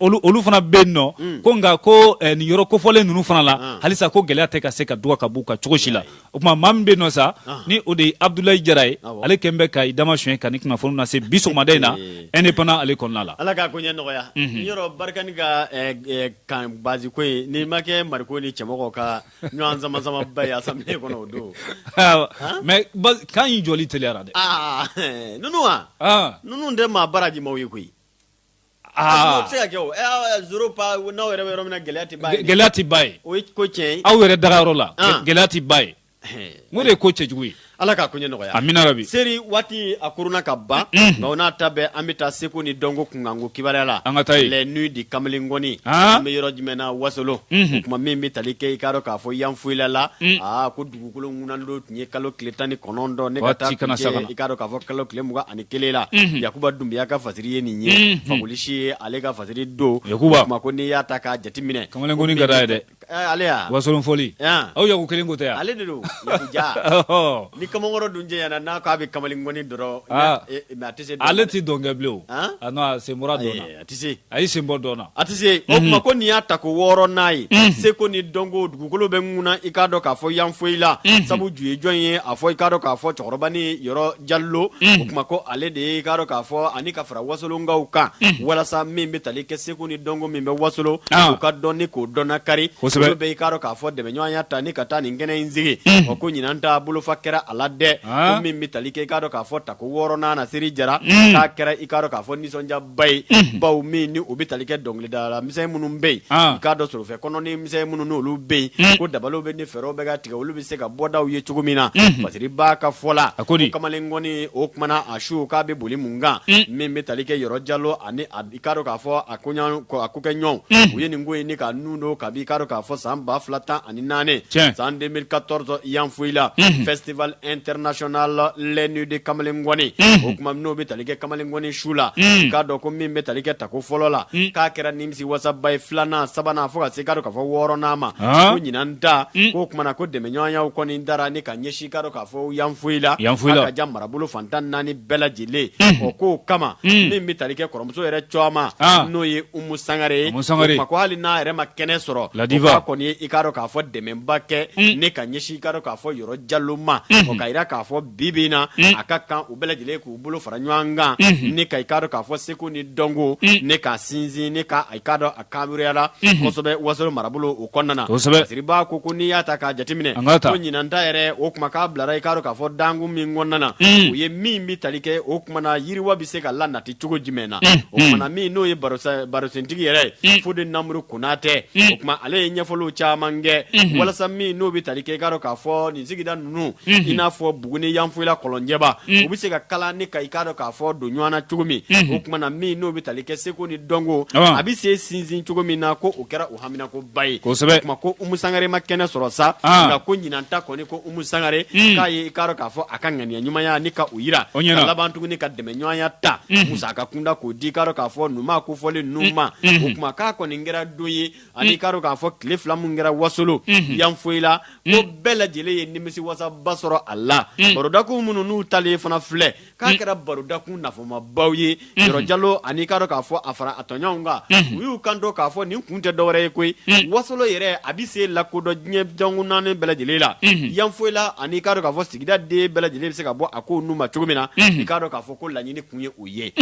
olu fana bɛ yen nɔ hmm. ko nka ko eh, nin yɔrɔ kofɔlen ninnu fana la halisa ko gɛlɛya tɛ ka se ka dɔgɔ ka b'u kan cogo si la o tuma maa min bɛ yen nɔ sa ni o de ye abudulayi jara ye ale kɛlen bɛ ka i dama sonyɛ ka nin kunnafoni lase bi sɔgɔmada in na indépendant ale kɔnɔna la. ala k'a ko ɲɛ nɔgɔya. yɔrɔ barikani ka kan base ko in n'i ma kɛ mariko ni cɛmɔgɔ ka ɲɔgɔn sama sama ba ye assemblée kɔnɔ o don. mais kan in jɔli teliyara dɛ. aa ninnu wa. ninnu tɛ maa baraji maaw ye koyi. Se ka kɛ n'aw yɛrɛ bɛ yɔrɔ min na gɛlɛya tɛ ban yen o ko tiɲɛ aw yɛrɛ daga yɔrɔ la gɛlɛya tɛ ban yen o de ye ko cɛjugu ye ala k'a ko nɔgɔya amina rabi seri waati a kuruna ka ban nka o n'a ta bɛɛ an bɛ taa seko ni dɔnko kunkanko kibaruya la an ka taa yen les nuits du kamalen ngɔni an bɛ yɔrɔ jumɛn na wasolon o tuma min bɛ tali kɛ i k'a dɔn k'a fɔ yanfolila la dugukolo ŋunan don tun ye kalo tile tan ni kɔnɔntɔn ne i k'a dɔn k'a fɔ kalo tile mugan ani kelen la yakuba dunbiya ka fasiri ye nin ye faolisi ye ale ka fasiri don o tuma ko n'i y'a ta k'a jateminɛ kamalen ŋɔni ka d'a ye dɛ wasolon fɔli aw yaku kelen ko tɛ ale de don ja ni kamalenmakɔrɔ dun jɛ ɲɛna n'a k'a bɛ kamalen ŋɔni dɔrɔn mɛn a tɛ se ale tɛ dɔnkɛ bilen a sen bɔra dɔn a tɛ se a y'i sen bɔ dɔn na a tɛ se o tuma ko nin y'a tako wɔɔrɔnan ye seko ni dɔnko dugukolo bɛ ŋuna i k'a dɔn k'a fɔ yanfoyila sabu ju ye jɔn ye a fɔ i k'a dɔn k'a fɔ cɛkɔrɔbanin yɔrɔ jalo o tuma ko ale de ye i k'a dɔn k'a fɔ ani ka fara wasolonkaw kan walasa min bɛ tali kɛ seko ni dɔnko min bɛ wasolo o ka dɔn ni k'o dɔnna kari olu bɛ i k'a dɔn k'a fɔ dɛmɛɲɔgɔnya ta ni ka taa nin kɛnɛ in sigi o ko ɲinan ta bolofa kɛra a la dɛ ko min bɛ tali kɛ i k'a dɔn k'a fɔ tako wɔɔrɔnan na seri jara k'a kɛra i k'a dɔn k'a fɔ nisɔndiya ba ye baw min ni o bɛ tali kɛ dɔnkilidala misɛn minnu bɛ yen i k'a dɔn sorofɛ kɔnɔnin misɛn minnu n'olu bɛ yen ko dabaliw bɛ ni fɛɛrɛw bɛ ka tigɛ olu bɛ se ka bɔdaw ye cogo min na fasiriba ka fɔ la ko kamalen ŋɔni o kuma na a su k'a bɛ boli mun kan min bɛ tali kɛ yɔrɔ jalo ani i k'a dɔn k'a fɔ a kokɛɲɔgɔn u ye nin ko in ni ka nun don kabi i k'a dɔn k'a fɔ san ba fila tan ani naani san deux mille quatorze yanfoyila festival international la nuit du kamalen ŋɔni o tuma n'o bɛ tali kɛ kamalen ŋɔni su la k'a dɔn ko min bɛ tali kɛ tako fɔlɔ la k'a kɛra nimisiwasaba ye filanan sabanan fo ka se k'a dɔn k'a fɔ wɔɔrɔnan ma ko ɲinan ta k'o kuma na ko dɛmɛɲɔgɔnya kɔni dara ni ka ɲɛsin i k'a dɔn k'a fɔ yanfoyila yanfoyila ka jan marabolo fan tan naani bɛɛ lajɛlen o k'o kama min bɛ tali kɛ kɔrɔ muso yɛrɛ n'o ye umu sangare ye o kuma ko hali n'a yɛrɛ ma kɛnɛ sɔrɔ k'a kɔni ye i k'a dɔn k'a fɔ dɛmɛba kɛ mm. ni ka ɲɛsin i k'a dɔn k'a fɔ yɔrɔ jalo ma mm. ka yira k'a fɔ bibi na mm. a ka kan u bɛɛ lajɛlen k'u bolo fara ɲɔgɔn kan ni ka i k'a dɔn k'a fɔ seko ni dɔnko ni k'a sinsin ni k' i k'a dɔn kaburuyara kosɛbɛ wasolo marabolo o kɔnɔna na fasiriba ko ko n'i y'a ta k'a jateminɛ ɲinan ta yɛrɛ o kuma k'a bilara i k'a dɔn k'a fɔ dakun min kɔnɔna na o ye min bɛ tali kɛ o kuma na yiriwa bɛ se ka lanati cogo jumɛn na o kuma na min n'o ye barosentigi yɛrɛ ye fode namuru konatɛ o tuma ale ye ɲɛfɔli caman kɛ walasa min n'o bɛ tali kɛ i k'a dɔn k'a fɔ nin sigida ninnu i n'a fɔ buguni yanfoyila kɔlɔnjɛba u bɛ se ka kala ni ka i k'a dɔn k'a fɔ don ɲɔgɔn na cogo min o tuma na min n'o bɛ tali kɛ seko ni dɔnko a bɛ se sinsin cogo min na ko o kɛra u haminankoba ye kosɛbɛ o tuma ko umu sangare ma kɛnɛ sɔrɔ sa nka ko ɲinan ta kɔni ko umu sangare k'a ye i k'a dɔn k'a fɔ a ka ŋaniya ɲumanya ni ka o jira u ɲɛ na ka laban tuguni ka dɛmɛɲɔgɔnya ta musaka kunda k'o di i k'a dɔn k'a fɔ nin ko fɔlen ninnu ma o tuma k'a kɔni kɛra don ye ani i k'a dɔn k'a fɔ tile fila min kɛra wasolo yanfoyila ko bɛɛ lajɛlen ye nimisiwasaba sɔrɔ a la barodakun minnu n'u talen fana filɛ k'a kɛra barodakun nafamabaw ye yɔrɔ jalo ani i k'a dɔn k'a fɔ a fara a tɔɲɔgɔnw kan u y'u kanto k'a fɔ nin kun tɛ dɔwɛrɛ ye koyi wasolo yɛrɛ a bɛ se lakodɔn diɲɛ dankun naani bɛɛ lajɛlen la yanfoyila ani i k'a dɔn k'a fɔ sigida den bɛɛ lajɛlen bɛ se ka bɔ a ko nun ma cogo min na i k'a dɔn k'a fɔ ko laɲini tun ye ye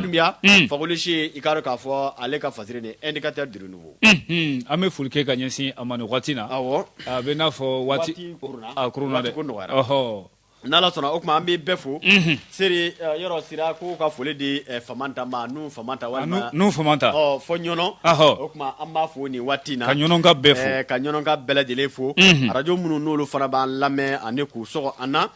dunbiya fakolisi i k'a dɔn k'a fɔ ale ka fasiri ni indicateur du renouveau an bɛ foli kɛ ka ɲɛsin a ma nin waati na a bɛ n'a fɔ waati dɛ ɔhɔ n'ala sɔnna o tuma an bɛ bɛɛ fo seri yɔrɔ sira ko ka foli di famanta ma nu famanta walima nu famanta fo ɲɔnɔ o tuma an b'a fo nin waati in na ka ɲɔnɔkaw bɛɛ fo ka ɲɔnɔkaw bɛɛ lajɛlen fo arajo minnu n'olu fana b'an lamɛn ani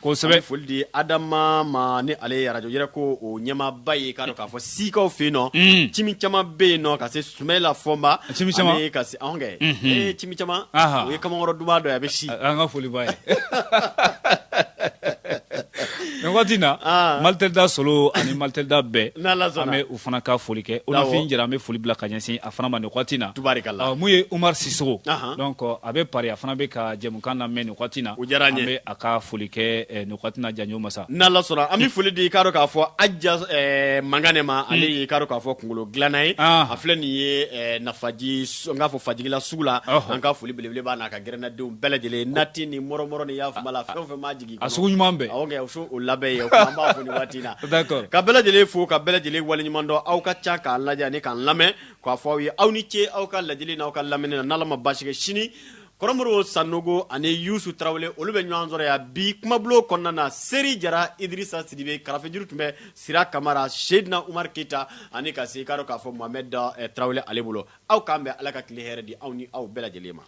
kosɛbɛ foli di adama ma ni ale ye arajo yɛrɛ ko o ɲɛmaaba ye k'a dɔn k'a fɔ sikaw fɛ yen nɔ cimi caman bɛ yen nɔ ka se sumayila fɔnba ani ka se anw kɛ ee cimi caman o ye kamankɔrɔ duman dɔ ye a bɛ si an ka foli b'a ye nin waati na mali tɛ da solo ani mali tɛ da bɛɛ fana ka foli kɛ olafin jara an bɛ foli bila ka ɲɛsin a fana ma nin wagati na mun ye umaru sisoko donc a bɛ paris a fana bɛ ka jɛmukan lamɛn nin wagati na an bɛ a ka foli kɛ nin wagati in na janjo masa n'ala sɔnna an bɛ foli di i k'a dɔn k'a fɔ aja mangane ma ale ye i k'a dɔn k'a fɔ kunkolo dilanna ye a filɛ nin ye nafaji n k'a fɔ fajigila sugu la an ka foli belebele b'a n'a ka gɛrɛnnadenw bɛɛ lajɛlen nati ni mɔrɔmɔrɔ ni yafama la fɛn o fɛn m'a jigin A sugu ɲuman bɛɛ ok o so o labɛn ye o tuma an b'a fo nin waati in na d'accord ka bɛɛ lajɛlen fo ka bɛɛ lajɛlen waleɲuman dɔn aw ka can k'an lajɛ ani k'an lamɛn k'a fɔ aw ye aw ni ce aw ka lajɛli n'aw ka lamɛni na n'Ala ma baasi kɛ sini kɔrɔ Moro Sanogo ani Youssou Traoré olu bɛ ɲɔgɔn sɔrɔ yan bi kumabulon kɔnɔna na Seri Jara Idirisa Sidibe karafejuru tun bɛ Sira Kamara Seydina Umar Keyita ani ka se i k'a dɔn k'a fɔ Mohamed Traoré ale bolo aw k'an bɛn Ala ka tile hɛrɛ di aw ni aw bɛɛ lajɛlen ma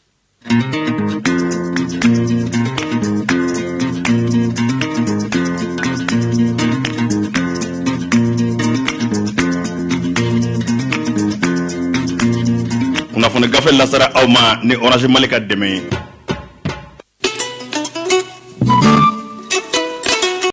kunnafoni gafe lasara aw ma ni orange mali ka dɛmɛ ye